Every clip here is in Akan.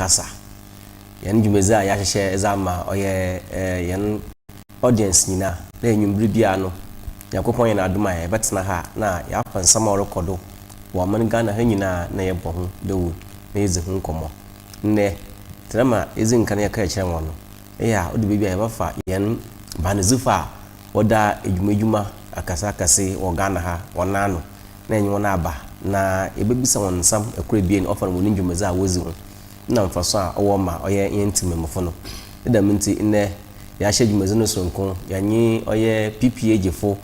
kasa. Hɛn dwumadzi a yɛahyehyɛ dze ama ɔyɛ hɛn. Audience nyina, dɛ ewimbir biara no, Nyankopɔn ayɛ no adom a yɛbɛtsena ha na yɛakɔ nsɛm a ɔrokɔ do wɔ ɔman Ghana ha nyina na yɛbɔ ho dawur na yedzi ho nkɔmbɔ. Ndɛ, tɛrm a yedzi nkan yɛkaa kyerɛɛ hɔn no, eyɛ a ɔda beebi a yɛbɛfa hɛn baanodzifo a wɔda edwumadwuma akɛse akɛse wɔ Ghana ha hɔn nan ano na yɛnye hɔn aba na yebebisa hɔn nsɛm kor ebien ɔfa hɔn ndwumadzi a wodzi ho. na mfaso a ɔwɔ ma ɔyɛ hɛn tsemammufo no. Ne dɛm ntsi, ndɛ yɛahyɛ dwumadzi no soronko yɛnye ɔyɛ PPAGfo,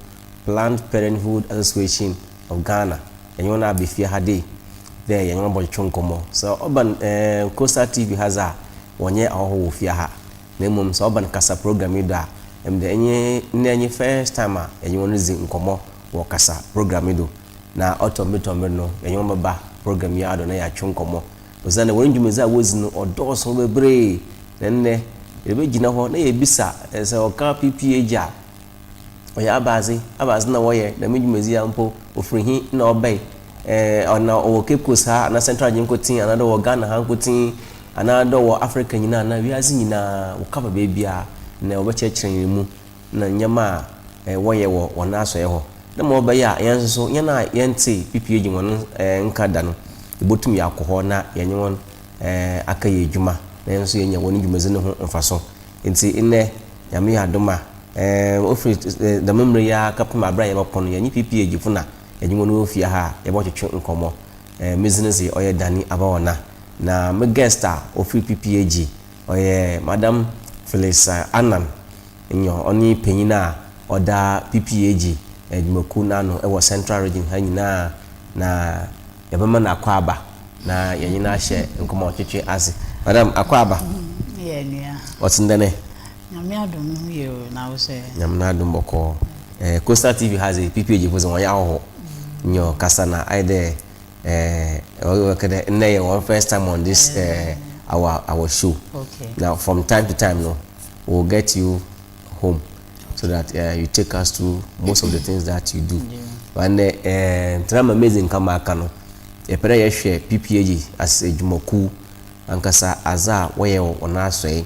Planned Parenthood Association of Ghana, yɛnye hɔn aba fie ha dei dɛ yɛnye hɔn bɔtwetwe nkɔmbɔ. Sɛ ɔba no ɛɛn Coastal TV ha dze a, wɔnnyɛ ahɔho wɔ fie ha, na mbom sɛ ɔba no kasa program yi do a, emi dze enye ndɛ nye first time a yɛnye hɔn ridzi nkɔmbɔ wɔ kasa program yi do. Na ɔtɔ mber tɔ mber no, yɛnye hɔn bɛba program yi ara do na yɛatwe nkɔmbɔ. Osiandɛ hɔn dwumadzi a wodzi no ɔdɔɔ sõ beberee, na ndɛ yebegyina hɔ na yeebisa dɛ sɛ wɔkã PP Agya a, ɔyɛ abadze, abadze na wɔyɛ dɛm dwumadzi yi a mpo, ofir hen na ɔbae? Ɛɛ ana ɔwɔ Cape Coast ha anaa Central Agye nkotsee anaa dɛ ɔwɔ Ghana ha nkotsee anaa dɛ ɔwɔ Africa nyina anaa wiadze nyina, wɔkã fa beebiara na wɔbɛkyerɛkyerɛ hɛn mu. na ndzɛmba a wɔyɛ wɔ hɔn asoɛe hɔ, dɛ ma ɔbɛyɛ a hɛn so so, hɛn a yɛnntsee PPAG hɔn nkã da no, yebotum yɛakɔ hɔ na yɛnye hɔn akɛyɛ edwuma na hɛn so yeenya hɔn dwumadzi no ho mfaso. Ntsi ndɛ, Nyame yɛ adom a, ofi dɛm mber yi ara kɛpem aber a yɛbɔkɔ no, yɛnye PPAG fo na yɛnye hɔn wɔ fie ha a yɛbɔtwetwe nkɔmbɔ. Me dzin dze ɔyɛ Danny Abaona, na me guest a ofir PPAG. Ɔyɛ Madam Phyllis Annan nyɔ, ɔne panyin a ɔda PPAG adwumakuw no ano wɔ Central Region ha nyina, na yɛbɛma no akwaaba na yɛnye no ahyɛ nkɔmbɔtwetwe ase. Madam akwaaba. Yɛ nua. Ɔtse ndɛ nɛ? Nyame adom no ho ye o, na wo sɛ? Nyame n'adom bɔkɔɔ. Coastal TV ha dze PPAG fo dze hɔn yɛ ahɔho nyɔ kasa na ayɛ dɛ eh, ɔyɛ ɔkɛ dɛ nnɛ yɛ wɔn first time on this eh, our our show okay. na from time to time no we will get you home so that uh, you take us through most of the things that you do but nnɛ eh, ntena ma mezi nka ma aka no yɛpɛ dɛ yɛhwɛ ppag as adwumakuw ankasa adze a wɔyɛ wɔ wɔn asɔe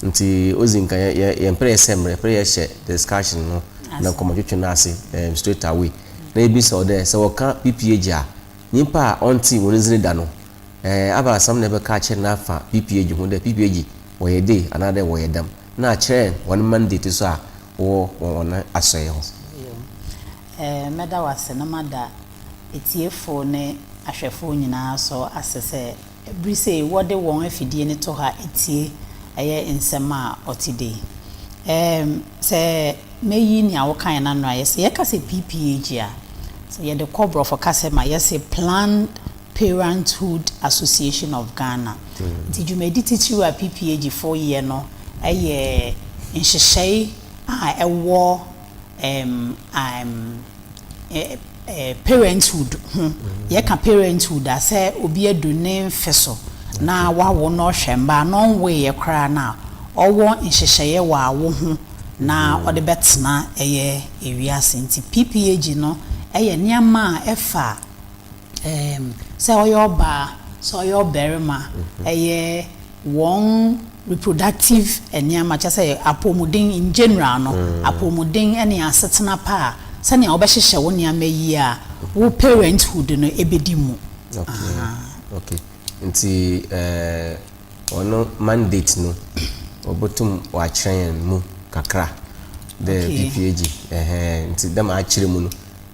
Ntsi odzi nka yɛ yɛ yɛmmper yɛsɛ mber, yɛpɛ dɛ yɛhyɛ discussion no na nkɔmbɔtwetwe no ase eem straight away. Na yebisa wo dɛ, sɛ wɔkã PPAG a, nyimpa a ɔnntse hɔn dzin da no, eeh abaasɛm na ebɛkã akyerɛ no afa PPAG ho dɛ PPAG wɔyɛ dei anaadɛ wɔyɛ dɛm, na akyerɛ hɔn mandate so a wɔwɔ wɔ hɔn asɔɛe ho. Eeh mɛda wo ase na mada etsiefo ne ahwɛfo nyina so ase sɛ Bere sei wɔde wɔn afidie no to ha tie ɛyɛ nsɛm a ɔte dei. Ɛɛm sɛ mɛyi nea wokaeɛ no ano ayɛ sɛ yɛka sɛ PPAG a, sɛ yɛde kɔ borɔfo kasa mu a yɛse Planned Parenthood Association of Ghana. Nti dwumadi titiriw a PPAG foɔ yɛ no yɛ nhyehyɛe a ɛwɔ ɛɛm ɛɛm ɛɛ parenthood ho, yɛka parenthood a sɛ obi adu ne mfe so na wawo na ɔhwɛ mma a na ɔnwoeɛ koraa no a, ɔwɔ nhyehyɛeɛ wɔ awo ho na ɔde bɛtena ɛyɛ ewiase. Nti PPAG no yɛ nneɛma a ɛfa ɛɛm sɛ ɔyɛ ɔbaa, sɛ ɔyɛ ɔbarima, ɛyɛ. wɔn reproductive nneɛma, kyerɛ sɛ apɔwmuden in general no, apɔwmuden ne asetena pa a sɛnea wobɛhyehyɛ wo nneɛma yie a wo parenthood no bɛdi mu. Okay, okay. Nti eh, ɔno mandate no, wɔbɛtum wɔakyerɛ yɛn mu kakra dɛ Okay. PPAG, ɛhɛɛ, nti dɛ ma akyerɛ mu no,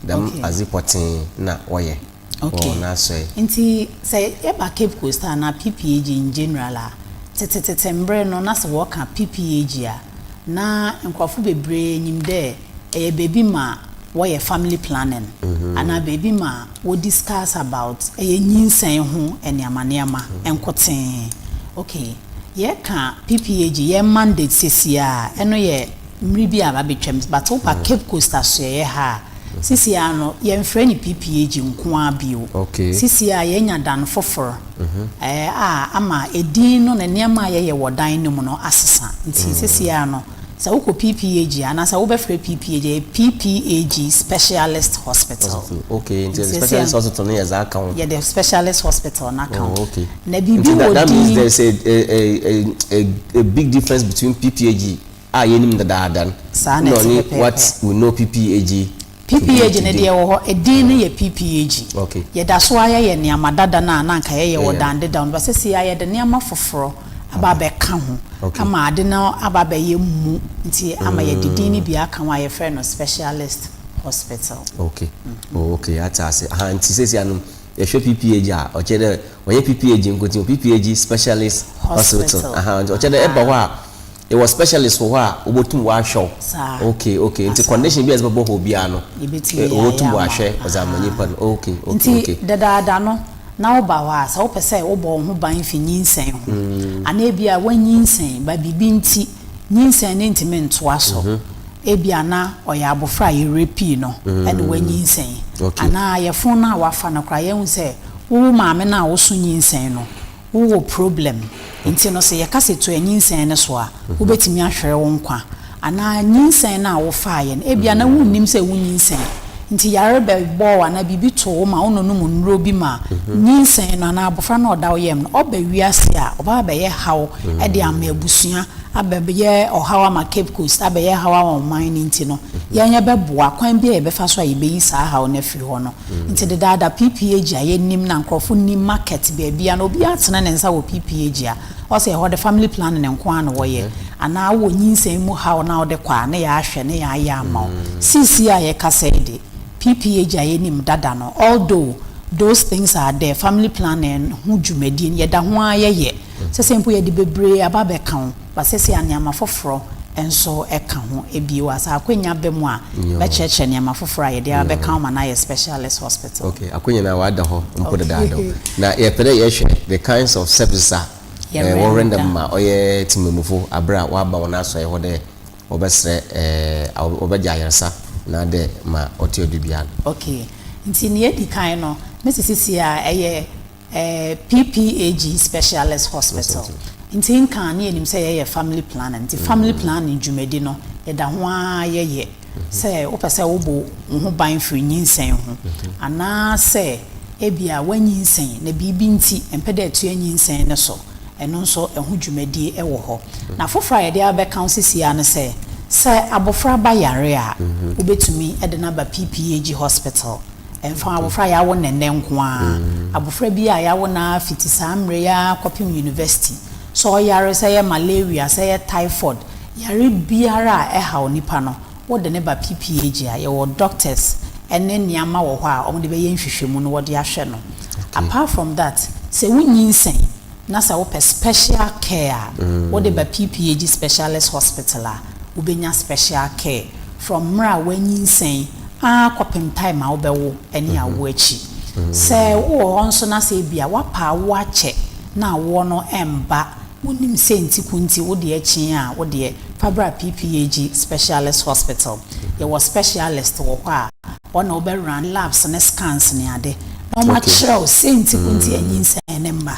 dɛm Okay. adze pɔtsee na wɔyɛ. wɔ wɔn asoɛe. Okay. Nti sɛ yɛba Cape Coast ha anaa PPAG in general a, tsetsetete mber no na sɛ wɔka PPAG a, na nkorɔfo beberee nyim dɛ ɛyɛ beebi ma wɔyɛ family planning anaa beebi ma wo discuss about ɛyɛ nyinsɛn ho nneɛma nneɛma nkotsee. Okay, yɛka PPAG, yɛn mandate seseiara, ɛno yɛ. Mmere bi a abɛtwam, but wopa Cape Coast asoɛeɛ ha a, seesei ara no, yɛmfrɛ no PPAG nko ara bio. Seesei ara yɛanya dan foforɔ a ama edin no ne nneɛma a yɛyɛ wɔ dan no mu no asesa. Nti seesei ara no, sɛ wokɔ PPAG a, anaasɛ wobɛfrɛ PPAG a, ɛyɛ PPAG Specialist Hospital. Nti seesei ara no, yɛde Specialist Hospital no aka ho. Na biribi wɔ din. Nti that means there's a a a a big difference between PPAG. a yɛnim no dedaada no, Saa na na ɛte ɔne What pɛpɛɛpɛ. We Know PPAG to be PPAG no deɛ today. ɛwɔ hɔ, edin no yɛ PPAG. Ok. Yɛda so ara yɛyɛ nneɛma dada no a na anka yɛyɛ wɔ Yɛyɛ no. dan dedaw no, but seesei ara yɛde nneɛma foforɔ aba abɛka ho Ok. ama ade no aba abɛyɛ mmu nti ama yɛde din no bi aka ho a yɛfrɛ no Specialist Hospital. Ok, oh ok, ate ase. Aha, nti seesei ara no yɛhwɛ PPAG a, ɔkyerɛ dɛ ɔnyɛ PPAG nko nti, PPAG Specialist Hospital. Hospital. Aha, nti ɔkyerɛ dɛ ɛba hɔ a, Yɛwɔ specialist wɔ hɔ a obotum ɔahwɛ wo. Saa. Okay okay ntsi condition bi a edze bɔbɔ hɔ biara no obotum ɔahwɛ ɔdze ama nyimpa no okay okay okay. Ntsi dedaada no na woba hɔ a sɛ wopɛ sɛ wobɔ wo ho ban fi nyinsɛn ho anaa bi a w'anyinsɛn ba biribi ntsi nyinsɛn no nntumi nntoa so ebi a na ɔyɛ abofra a yɛ rapee no na w'anyinsɛn anaa yɛfon no a w'afa no koraa yɛhu sɛ wo maame no a woso nyinsɛn no Wowɔ problem nti no sɛ yɛka sɛ tua nyinsɛn no so a, wobɛtumi ahwere wo nkwa. Anaa nyinsɛn no a wofaeɛ no, ebia na wonnim sɛ wonyinsɛn nti yare bɛbɔɔ wo anaa biribi too wo ma wononom nnuro bi ma nyinsɛn no anaa abɔfra no a ɔda wo yam no ɔba wiase a, ɔba abɛyɛ haw de ama abusua, abɛyɛ ɔhaw ama Cape Coast, abɛyɛ haw ama ɔman no nti no, yɛn yɛbɛboa kwan biara a yɛbɛfa so a yɛbɛyi saa haw no afiri hɔ no. Nti dedaada PP agyia yɛnim na nkorɔfo nim market baabia na obia tene ne nsa wɔ PP agyia ɔsɛ ɛhɔ de family planning nko ara na wɔyɛ anaa wowɔ nyinsɛn mu haw na wode kɔ a ne yɛahwɛ ne yɛayɛ ama wo seesei a yɛkasa yi de PP agyia yɛnim dada no although those things are there family planning ho dwumadie no yɛda ho ara yɛyɛ sɛsɛi mpo yɛde bebree aba abɛka wo Wɔasiesie anneɛma foforɔ nso ka ho. Ebie wɔ ha, sɛ akwanya ba mu a, bɛkyerɛkyerɛ nneɛma foforɔ a yɛde abɛka ho ma no ayɛ specialist hospital. Okay, akwanya no a wada hɔ mpo dedaada o. Na yɛpɛ dɛ yɛhwɛ the kinds of services a wɔ render ma ɔyɛ temammufo aber a wɔaba hɔn asɔɛe hɔ dɛ wɔbɛserɛ a wɔbɛgye ayarsa na dɛ ma ɔtse ɔdo biara no. Okay, ntsi nea edzi kan no, me sisi tsia a ɛyɛ PPAG Specialist Hospital ntsi nka a na yɛnyim sɛ yɛyɛ family planning ntsi family planning dwumadi no yɛda ho ara yɛyɛ sɛ wopɛ sɛ wobo woho ban fir nyinsɛn ho anaa sɛ bi a w'anyinsɛn na biribi ntsi ɛmmpɛ dɛ ɛtoa nyinsɛn no so ɛno nso ɛho dwumadi wɔ hɔ. Na fofor a yɛde abɛka wo sisi ara ne sɛ sɛ abofra ba yare a wobetumi de no aba PPAG Hospital. Ɛmfa abofra a yɛawo no nnɛ nko ara, abofra bi a yɛawo no ara fiti saa mmerɛ yi ara kɔpem yunivɛsiti, sɛ ɔyare, sɛ ɛyɛ malaria, sɛ ɛyɛ typhoid, yare biara a ɛhaw nipa no, wode no ba PPAG a, yɛwɔ doctors ne nneɛma wɔ hɔ a wɔde bɛyɛ nhwehwɛmu na wɔde ahwɛ no. Apart from that, sɛ wonyinsɛn na sɛ wopɛ special care a, wode ba PPAG Specialist Hospital a, wobɛnya special care from mmerɛ a woanyinsɛn, ara kɔpem time a wobɛwo ne awoɔ akyi. Sɛ wowɔ hɔ nso na sɛ ebia woapa awoɔ akyɛ na awoɔ no mba, wonim sɛ nti ko nti wodeɛ akyin a, wodeɛ fa bra PPAG Specialist Hospital. Yɛwɔ specialist wɔ hɔ a wɔn na wobɛ run labs ne scans ne ade na wɔakyerɛ wo sɛ nti ko nti a nyinsɛn no mma.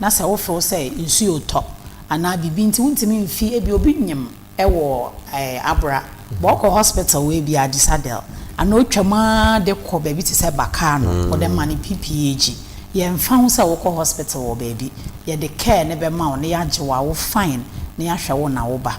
na sɛ wofew sɛ nsu retɔ anaa biribi nti wontumi mfi ebia obi nyem wɔ abora bɔ ɔkɔ hospital wɔ ebia Adisadel anaa otwam ara de kɔ baabi te sɛ Bakar no wɔde ma no PPAG yɛmfa ho sɛ wokɔ hospital wɔ baabi yɛde care no bɛma wo na yɛagye wo awo fine na yɛahwɛ wo na wo ba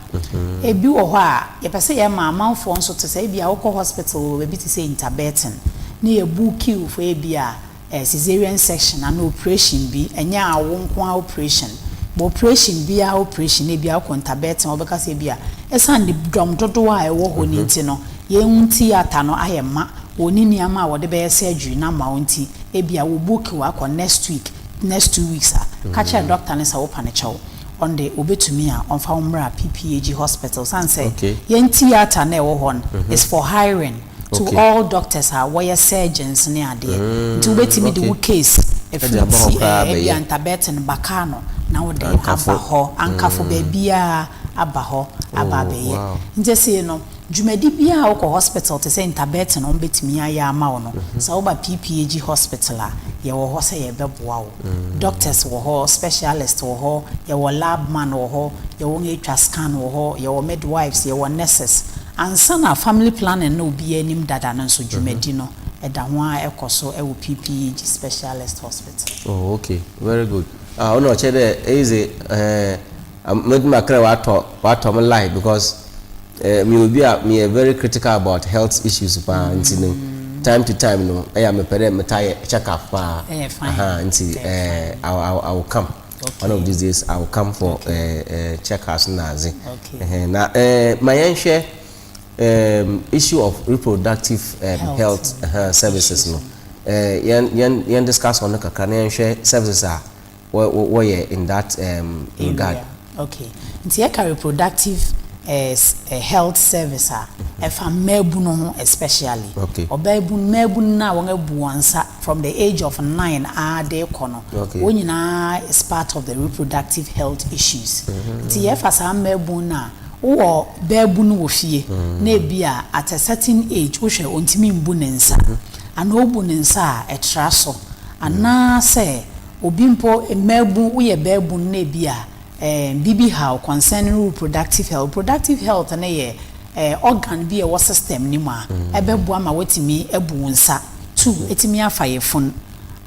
ebi wɔ hɔ a yɛpɛ sɛ yɛma amanfoɔ nso te sɛ ebia wokɔ hospital wɔ baabi te sɛ Interbetten na yɛbuuki wo for ebia Ɛyɛ caesarean section anaa oprehyɛn bi, ɛnyɛ awo nko ara oprehyɛn. But oprehyɛn biara oprehyɛn, ebia wokɔ Ntabɛɛten hɔ wɔbɛka sɛ ebia ɛsiane ne dɔm dodoɔ a ɛwɔ hɔ no nti no, yɛn ho theatre no ayɛ ma, wɔnni nneɛma a wɔde bɛyɛ surgery no ama wo nti ebia wɔ book wo akɔ next week, next two weeks a, ka kyerɛ doctor no sɛ wo panikyɛ wo. Ɔno deɛ ɔbɛtumi a ɔmfa wo mmra PPAG hospital ɛsiane sɛ yɛn theatre no a ɛwɔ hɔ no is for hiring. to all doctors a wɔyɛ surgeons ne adeɛ nti wobɛtumi de wo case afiri ti ɛɛ ebia Ntabɛten baka no na wode aba hɔ Ankafo baabiara aba hɔ aba abɛyɛ nti see no dwumadi biara a wokɔ hospital te sɛ Ntabɛten a wɔbɛtumi ayɛ ama wo no sɛ woba PPAG hospital a yɛwɔ hɔ sɛ yɛbɛboa wo doctors wɔ hɔ specialist wɔ hɔ yɛwɔ lab man wɔ hɔ yɛwɔ wɔn atwa scan wɔ hɔ yɛwɔ midwives yɛwɔ nurses Ansa na Family Planning no obiara anim dada no nso dwumadi no da ho ara kɔ so wɔ PPEG Specialist Hospital. Oh ok very good ah wo na ɔkyɛ dɛ eyi dze eh medze makrɛ watɔ watɔ me line because eh meyɛ obi a meyɛ very critical about health issues paa ntsi no time to time no eya mepɛ dɛ metaa yɛ check up paa ahaa ntsi eh I will come. one of these days i will come for okay. uh, uh, check house na adze okay. uh -huh. na uh, ma yɛnhwɛ um, issue of reproductive um, health, health uh -huh, services no uh, yɛn yɛn yɛn discuss on no kakra na yɛnhwɛ services a wɔyɛ in that um, regard. Okay. Nti yɛka reproductive health service a, ɛfa mmaabunu ho especially. Ɔbaabunu, mmaabunu no a wɔabu wɔn nsa from the age of nine ara de rekɔ no, wɔn nyinaa is part of the reproductive health issues. Nti yɛfa saa mmaabunu no a, wowɔ baabunu wɔ fie na ebi a at a certain age wohwɛ ɔntumi mbu ne nsa, anaa ɔbu ne nsa a ɛtra so, anaasɛ obi mpo, mmaabunu, woyɛ baabunu na ebi a Ɛɛ biribi haw concerning reproductive health. Reproductive health no yɛ ɛɛ organ bi a ɛwɔ system no mu a ɛbɛboa ma woatumi abu wo nsa two, atumi afa yafunu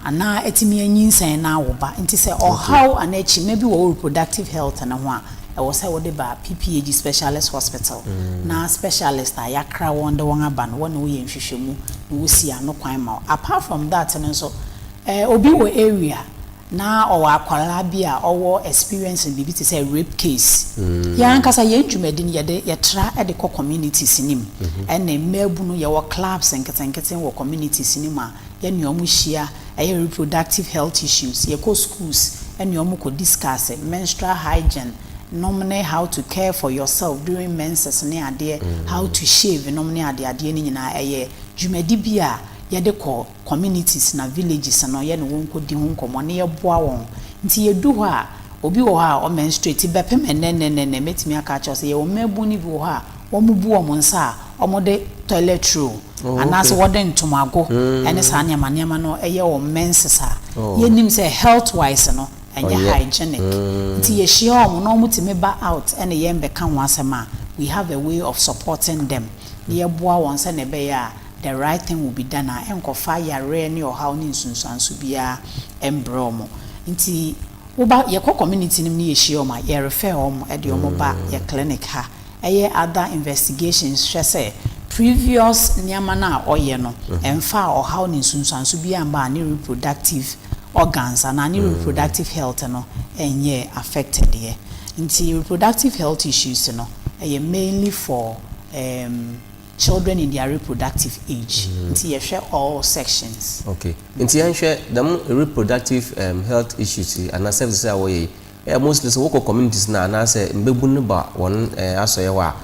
anaa atumi anyinsɛn na awo ba. Nti sɛ ɔhaw anaa akyima bi wɔ wo reproductive health no ho a, ɛwɔ sɛ wode ba PPAG specialist hospital na specialist a yɛakra wɔn de wɔn aba no, wɔne wo yɛ nhwehwɛmu na wosi ano kwan ma wo. Apart from that no nso, ɛɛ obi wɔ area Na ɔwɔ akwadaa bi a ɔwɔ experience no biribi te sɛ rape case. Yɛn ankasa yɛn dwumadi no yɛde yɛtra de kɔ communities no mu ɛne mmaabunu yɛwɔ clubs nketenkete wɔ communities no mu a yɛne wɔn hyia ɛyɛ reproductive health issues yɛkɔ schools ɛne wɔn kɔ discuss menstrual hygiene nom ne how to care for yourself during menses ne adeɛ how to shave nom ne adeadeɛ no nyinaa ɛyɛ dwumadi bi a yɛde kɔ communities na villages no yɛne wɔn kɔdi ho nkɔmmɔ na yɛboa wɔn. Nti yɛdu hɔ a, obi wɔ hɔ a ɔmenstruate bɛpem ɛnnɛnnɛnnɛnnɛ, mɛtumi aka akyerɛ wo sɛ yɛwɔ mmaabun no bi wɔ hɔ a wɔbu wɔn nsa a wɔde toilet roll anaasɛ wɔde ntomago ne saa nneɛma nneɛma no yɛ wɔn menses a, yɛnim sɛ health wise no ɛnyɛ hygienic. Nti yɛhyia wɔn na wɔtumi ba out ne yɛn bɛka ho asɛm a, we have a way of supporting them na yɛboa wɔn sɛdeɛ ɛbɛyɛ a, The right thing will be done a, ɛnkɔfa yareɛ ne ɔhaw ne nsunsuanso biara mbrɛ wɔn. Nti woba, yɛkɔ community no mu ne yɛhyia wɔn a, yɛ refer wɔn de wɔn ba yɛ clinic ha, ɛyɛ other investigations hwɛ sɛ previous nneɛma no a ɔyɛ no, ɛmfaa ɔhaw ne nsunsuanso biara mmaa ne reproductive organs anaa ne reproductive health no nyɛɛ affected ɛ. Nti reproductive health issues no, ɛyɛ mainly for, um. Children in their reproductive age nti yɛhwɛ all sections. Ok nti yɛnhwɛ dɛm reproductive um health issues yi anaa services a wɔyɛ yi eh mostly sɛ wɔkɔ communities no a anaa sɛ mbabun no ba hɔn eh asɔɛ hɔ a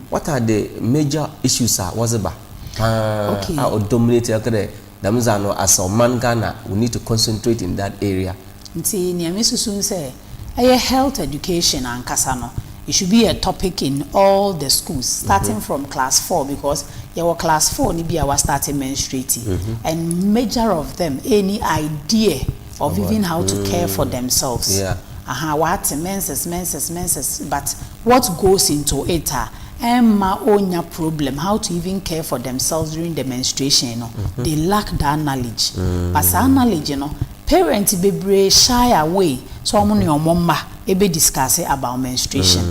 what are the major issues a wɔdze ba paa a ɔ dominate a ɔkɛ dɛ dɛm dza no asɛ ɔman Ghana we need to concentrate in that area. Ntsi nea me susu ne sɛ ɛyɛ health education ankasa no it should be a topic in all the schools starting from class four because yɛwɔ class four no bi a wa starte menstruating and major of them ɛɛni idea of even how to care for themselves Yeah. aha w'ate menses menses menses but What goes into it a ɛmma ɔnnya problem how to even care for themselves during the menstruation no, they lack that knowledge. But saa knowledge no, parents bebree shy away sɛ wɔn ne wɔn mma bɛ discuss about menstruation.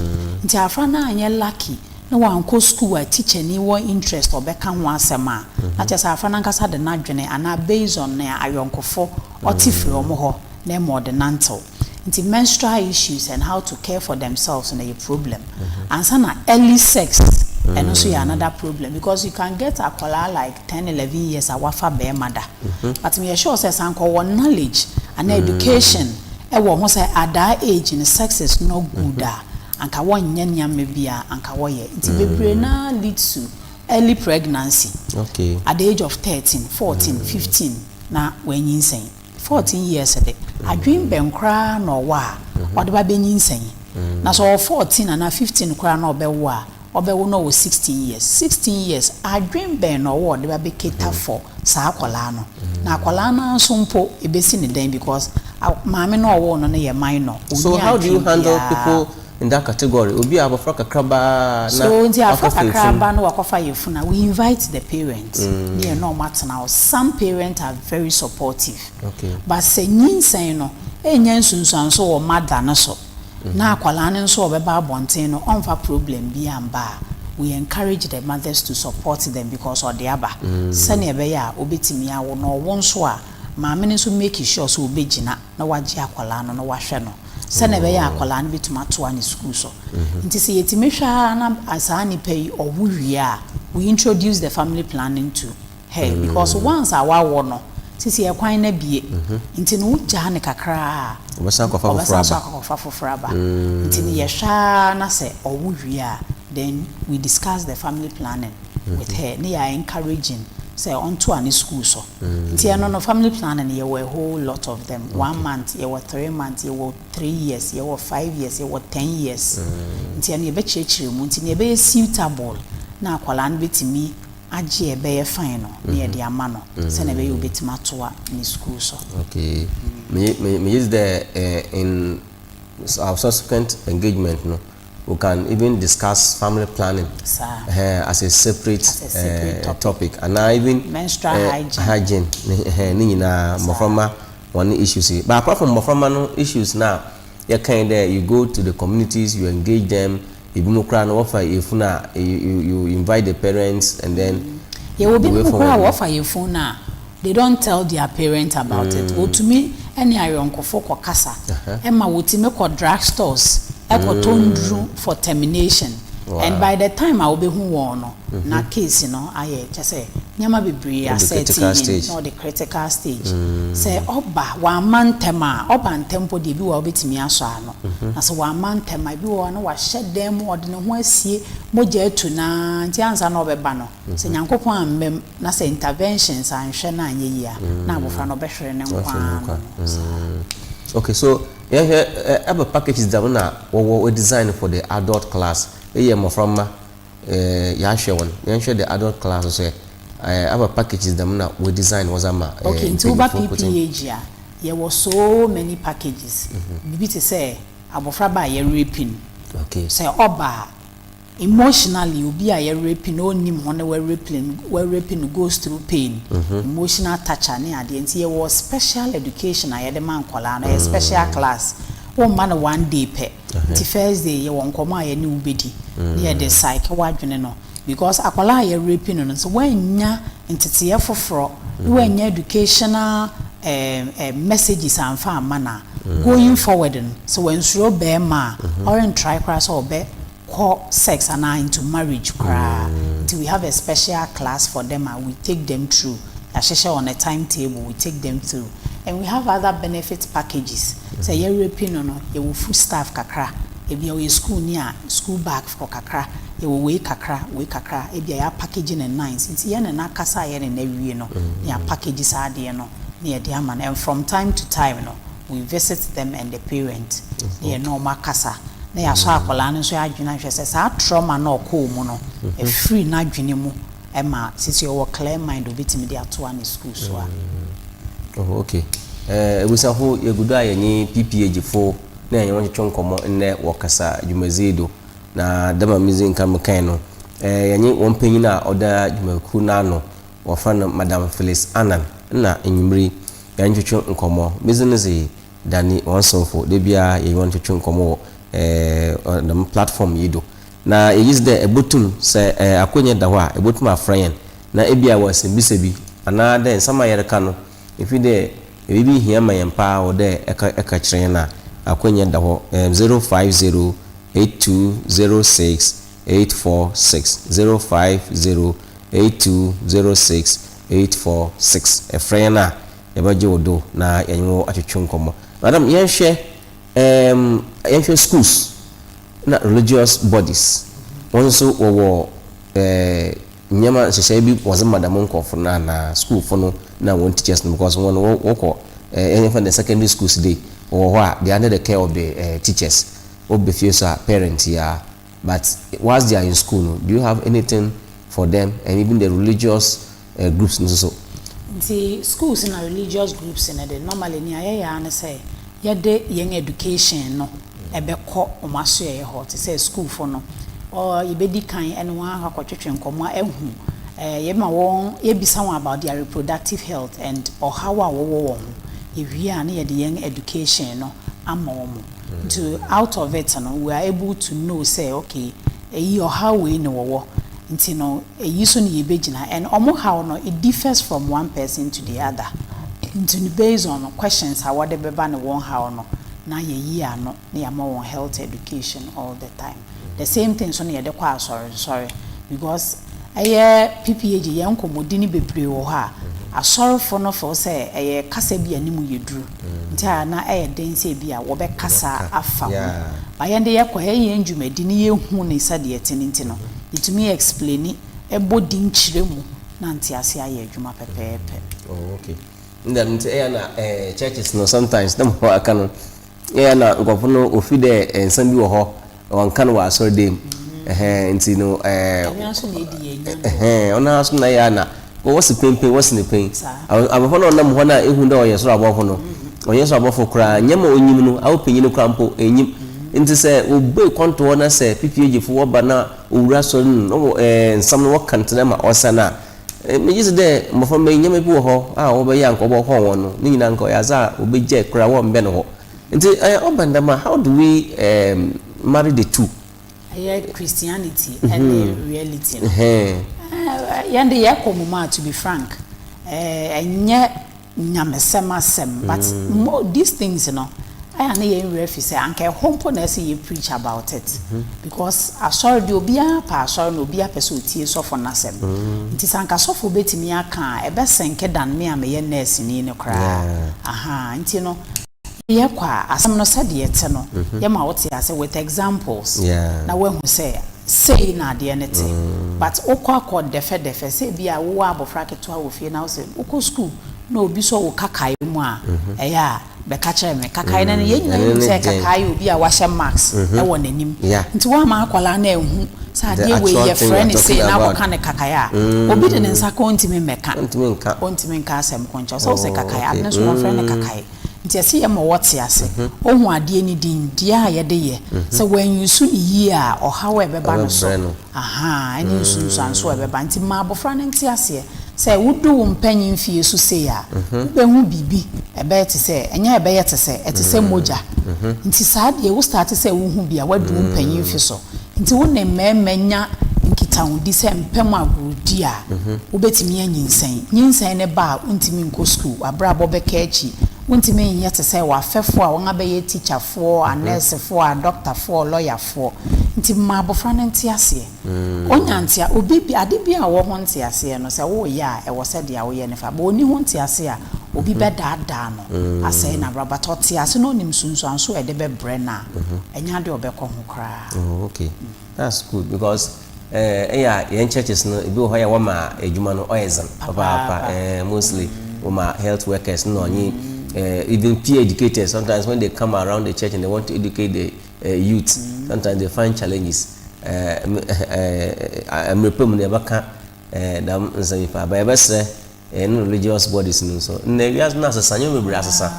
Nti afra no anyɛ lucky na wankɔ school a teacher ni wɔ interest sɛ ɔbɛka ho asɛm a, na kyerɛ sɛ afra no ankasa de n'adwene anaa based on nea ayɔnkofo ɔte firi wɔn hɔ na ɛma ɔde nantew. Nti menstrual issues and how to care for themselves no yɛ problem ansa na early sex ɛno nso yɛ another problem because you can get akwadaa like ten eleven years a wafa barima da but meyɛ sure sɛ sɛ anka ɔwɔ knowledge anaa education ɛwɔ ho sɛ at that age no sex is not good a anka wɔnyɛ nneɛma bi a anka wɔyɛ nti bebree no ara lead to early pregnancy at the age of thirteen fourteen fifteen na wɔanyinsɛn. Fourteen years de, adwene bɛn koraa na ɔwɔ a ɔde ba bɛnyinsɛn yi? Na sɛ ɔwɔ fourteen anaa fifteen koraa na ɔbɛwo a, ɔbɛwo na ɔwɔ sixteen years. Sixteen years, adwene bɛn na ɔwɔ a ɔde ba bɛ cater for saa akwadaa no? Na akwadaa no ara nso mpo, ɛbɛsi no dɛn because maame no a ɔwoo no no yɛ minor, ɔnni adwene biara. in that category, obi a abɔfra kakraba a na So nti abɔfra wakɔfa kakra efunu. aba na wakɔfa yɛn funu a, we invite the parent ne yɛne wɔn atena hɔ. Some parents are very supportive. Okay. But sɛ nyinsɛn no nnya nsunsuanso wɔ mother no so na akwadaa no nso a ɔbɛba abɔnten no ɔmfa problem biara mma a, we encourage the mothers to support them because ɔde aba sɛnea ɛbɛyɛ a ɔbɛtumi awo na ɔwo nso a, maame no nso make sure sɛ ɔbɛgyina. na wagye akwadaa no na wahwɛ no sɛnea ɛbɛyɛ a akwadaa no bɛtumi atoa ne sukuu so. Mhm. Nti sɛ yɛtumi hwɛ ara na saa nnipa yi ɔwo wie a, we introduce the family planning to her mm. because once a wawɔ no sisi ɛkwan no abie mhm. nti no wogyaa no kakraa ɔbɛsan akɔfa foforɔ aba mm. nti no yɛhwɛ ara na sɛ ɔwo wie a then we discuss the family planning with mhm. her ne yɛ encouraging sɛ ɔntoa ne sukuu so Nti ɛno no family planning no yɛwɔ a whole lot of them, one month, yɛwɔ three months, yɛwɔ three years, yɛwɔ five years, yɛwɔ ten years. Nti ɛno yɛbɛkyerɛkyerɛ mu, nti nea ɛbɛyɛ suitable na akwadaa no bɛtumi agye a ɛbɛyɛ fine no na yɛde ama no sɛdeɛ ɛbɛyɛ a ɔbɛtumi atoa ne sukuu so. Okay. Me, me, me use the uh, in our subsequent engagement no. We can even discuss family planning eh as a separate eh topic anaa even menstrual hygiene hygiene ne eh ne nyinaa mmɔframma wɔn ne issues yi but apart from mmɔframma no issues no a yɛka yi dɛ you go to the communities you engage them ebinom koraa no wɔfa yefunu a you you invite the parents and then yɛwɔ binom koraa a wɔfa yefunu no a They don't tell their parents about it Wotumi ne ayɔnkofo kɔkasa ma wotumi kɔ drug stores kɔtɔ nnuru for termination and by the time a wobehu wɔn no na case no ayɛ kyɛ sɛ nneɛma bebree asɛɛte in na ɔde critical stage Sɛ ɔba wamma ntɛm a ɔba ntɛm mpo deɛ ebi wɔ hɔ a wobetumi asɔ ano na sɛ wamma ntɛm a ebi wɔ hɔ a na wahyɛ dan mu ɔde ne ho asie mogya atu no ara nti ansa na ɔbɛba no sɛ Nyankopɔn amma mu Na sɛ interventions anhwɛ no anyɛ yie a, na abɔfra no ɔbɛhwere ne nkwa ara no. Saa. Okay, so yɛhwɛ ɛbɛ packages dɛm na wɔwɔ wɔ design for the adult class. Eyi yɛ mmɔfra mma ɛɛ yɛahwɛ wɔn. Yɛnhwɛ the adult class nso ɛ. Ɛɛ ɛbɛ packages dɛm na wɔ design wɔdze ama ɛɛ. Okay, nti woba PPAG a, yɛwɔ so many packages. Biribi te sɛ abɔfra ba a yɛrerepi no. Okay. Sɛ ɔba a. Emotionally obi a yɛ rape no ɔnnim ho na wɔ rape no wɔ rape no goes through pain, emotional torture ne adeɛ nti yɛwɔ special education a yɛde ma nkwadaa no ɛyɛ special class womma no one day pɛ nti first day yɛwɔ nkɔmmɔ a yɛne wo bɛdi na yɛde psyche w'adwene no because akwadaa a yɛ rape no no sɛ woannya nteteeɛ foforɔ na woannya educational ɛɛm ɛɛm messages amfa amma no a going forward no sɛ wansuro bɛɛma a ɔren try koraa sɛ ɔbɛ kɔ sex anaa into marriage koraa nti we have a special class for them a we take them through yahyehyɛ on a time table we take them through and we have other benefit packages sɛ yɛ rapi no no yɛwɔ food staff kakra ebia ɔyɛ school ni a school bag for kakra yɛwɔ wei kakra wei kakra ebia yɛ apakage ne nice nti yɛne no akasa a yɛne no awie no ne apakage saa adeɛ no na yɛde ama no and from time to time no we visit them and the parent na yɛne wɔn akasa na yɛasɔ akwadaa no nso adwene ahwɛ sɛ saa trauma na ɔkɔɔ mu no ɛfiri n'adwene mu ɛma sisi ɔwɔ clear mind obetumi de atoa ne school so a. Mm. Oh, okay. Eh, ebusafo yɛgudo a yɛnye pph fo na yɛnye wɔn twetwe nkɔmmɔ nnɛ wɔ kasa dwumadzi do na dɛm a medzi nka mekae no eh, yɛnye wɔn panyin a ɔda dwumakuw n'ano wɔfrɛ no Madam Phyllis Annan nna enyimber yi yɛnntwetwe nkɔmbɔ. Medzi no dze Danny hɔn somfo. Da biara yɛnye hɔn twetwe nkɔmbɔ wɔ ɛɛɛ dɛm platform yi do. Na yɛgye dzi dɛ ebotum, sɛ ɛɛ akwanya da hɔ a, ebotum afrɛ hɛn na bi a ewɔ nsɛmbisa bi anaa dɛ nsɛm a yɛreka no ifi dɛ biribi hia ma hɛn paa ɔwɔ dɛ ɛka ɛka kyerɛ hɛn a, akwanya da hɔ, ɛɛm zero five zero eight two zero six eight four six zero five zero eight two zero six eight four six ɛfrɛ yɛn a yɛbɛgye wo do na yɛnye wo atwetwe nkɔmmɔ madam yɛnhwɛ ɛɛm yɛnhwɛ schools na religious bodies wɔn nso wɔwɔ ɛɛ nneɛma nhyehyɛe bi wɔdze ma dɛm nkorɔfo no anaa schoolfo no na wɔn teachers no because wɔn wɔ wɔkɔ ɛɛ yɛmfa no dɛ secondary schools dei wɔwɔ hɔ a they are under the care of the ɛɛ teachers wɔ ba fie so a parent yi a but whilst they are in school no do you have anything for them and even the religious eh groups no nso. Nti schools na religious groups no de normally nea yɛyɛ ara ne sɛ yɛde yɛn education no bɛkɔ wɔn asoɛeɛ hɔ te sɛ sukuufo no or yɛbɛdi kan ɛne wɔn akɔ akɔtwetwe nkɔmmɔ ahu eh yɛma wɔn yɛbisa wɔn about their reproductive health and ɔhaw a wɔwɔ wɔ ho yɛwie a na yɛde yɛn education no ama wɔn. Nti out of it no we are able to know sɛ okay ɛyi ɔhaw wei na wɔwɔ nti no ɛyi so na yɛbɛgyina and wɔn haw no it differs from one person to the other nti no based on questions a wɔde bɛba ne wɔn haw no na yɛyi ano na yɛama wɔn health education all the time. the same thing nso na yɛde kɔ asɔre nsɔre because ɛyɛ PPAG yɛn nkɔmmɔdi no bebree wɔ hɔ a asɔrefo no feel sɛ ɛyɛ kasa bi a ne mu yɛ duru nti a na ɛyɛ den sɛ ebi a wɔbɛkasa afa ho but yɛn de yɛkɔ ɛyɛ yɛn dwumadi na yɛhu ne sɛdeɛ ɛte no nti no yɛtumi explaini bɔ din kyerɛ mu na nteaseɛ ayɛ adwuma pɛpɛɛpɛ. Oh okay. Ne dɛm nti ɛyɛ a na churches no sometimes na mo aka no. Yɛɛ a na nkorɔfo no wofi dɛ nsɛm bi wɔ hɔ na wɔnnka no wɔ asɔr dan mu. Ɛhɛn, ntsi no ɛɛɛ. Ɔnoara so na edi yɛn nyɛnbɔ. Ɛhɛn, ɔnoara so na yɛ a na wɔse penpen, wɔse no pen. Saa. Aberfo no a wɔnam hɔ no a ehu dɛ ɔyɛ sor abɔfo no, ɔnnyɛ sor abɔfo koraa, nnyɛma a onyim no, aopanyin koraa mpo, ennyim. Ntsi sɛ wobue kɔntɔɔ na sɛ PPAG fo wɔba na wowura asɔr no mu na wɔ ɛɛɛ nsɛm no wɔka no tse dɛ ma ɔsan a, Megye dzi dɛ mboframba yi, ndzɛmba bi wɔ hɔ a wɔbɛyɛ a nka ɔbɔhɔn hɔn no, ne nyina nka ɔyɛ adze a wobegyae koraa wɔmmbɛn hɔ. Ntsi ɔba no dɛm a, how do we marry the two? Yɛ Christianity ne reality no, hɛn dze yɛkɔ mu a, to be frank, nnyɛ nyamesɛm asɛm but more these things no ayɛ a na yɛn werɛ afi sɛ anka ɛhɔ mpo na ɛsɛ yɛ preach about it because asɔre deɛ obiara pɛ asɔre na obiara pɛ sɛ ɔtie sɔfo no asɛm nti sɛ anka sɔfo bɛtumi aka a ɛbɛsɛnke than me a meyɛ nurse ni no koraa ahaa nti no Yɛkɔ a, asɛm no sɛdeɛ ɛte no, yɛma wo te ase with examples na woahu sɛ sei na adeɛ no te. But wokɔ akɔ dɛfɛdɛfɛ, sɛ ebia wowɔ abɔfra ketewa wɔ fie na wose wokɔ sukuu na obi sɔ wo kakae mu a, ɛyɛ a bɛka kyerɛ me. Kakae no no, yɛn nyinaa nim sɛ kakae yɛ obi a wahyɛ mask wɔ n'anim. Nti woamma akwadaa no anhu sɛ adeɛ wei yɛfrɛ no sei na akɔka no kakae a, obi de ne nsa ka a ɔntumi mmɛka, ɔntumi nka asɛm ko nkyerɛ wo. Sɛ wose kakae, ade no nso wɔmfrɛ no kakae. Nti ɛse yɛma wɔte ase, wɔhu adeɛ no din, deɛ a yɛde yɛ, sɛ wɔanuse no yie a ɔhaw a ɛbɛba no so, ahaa, ɛne nsunsuansoɔ a ɛbɛba. Nti ma abɔfra no nte aseɛ sɛ wodu wo mpanin mfeɛ su sei a, wobɛhu biribi, ɛbɛyɛ te sɛ, ɛnyɛ ɛbɛyɛ te sɛ, ɛte sɛ mogya. Nti saa deɛ wo starte sɛ wohu bi a, woadu wo mpanin mfe so. Nti wo ne mmarima nya nkitahodi sɛ mpɛ mu agorodi a, wobɛtumi anyinsɛn. Nyinsɛn no ba a, wontumi nkɔ sukuu, w'abrabɔ bɛka akyi, wontumi nyɛ te sɛ w'afɛfoɔ a wɔabɛyɛ tikyafoɔ, anɛɛsefoɔ, adɔktafoɔ, ɔlɔyafoɔ. Nti ma abɔfra no nte aseɛ. Ɔnya ntea, obi bi, ade bi a ɔwɔ ho nteaseɛ no, sɛ woreyɛ a, ɛwɔ sɛ deɛ woyɛ no fa. But ɔnni ho nteaseɛ a, obi bɛdaadaa no asɛe n'abrabɔ. But ɔte ase na ɔnim nsunsuansoɔ a ɛde bɛbrɛ no a, ɛnyɛ adeɛ a ɔbɛkɔ ho. koraa. Oh ok that's good because eh ɛyɛ a yɛn churches no ebi wɔ hɔ yɛ wɔma adwuma no ɔyɛ dzen papaapa eh mostly wɔma health workers no na ɔnye eh even peer educators sometimes when they come around the church and they want to educate the eh, youth sometimes they find challenges eh eh eh mmerɛ pa mu no yɛbɛka eh dɛm nsɛm yi paa ba yɛbɛsrɛ. Ɛne religious bodies no nso. Nnɛ wiase no asesa, nneɛma bebree asesa.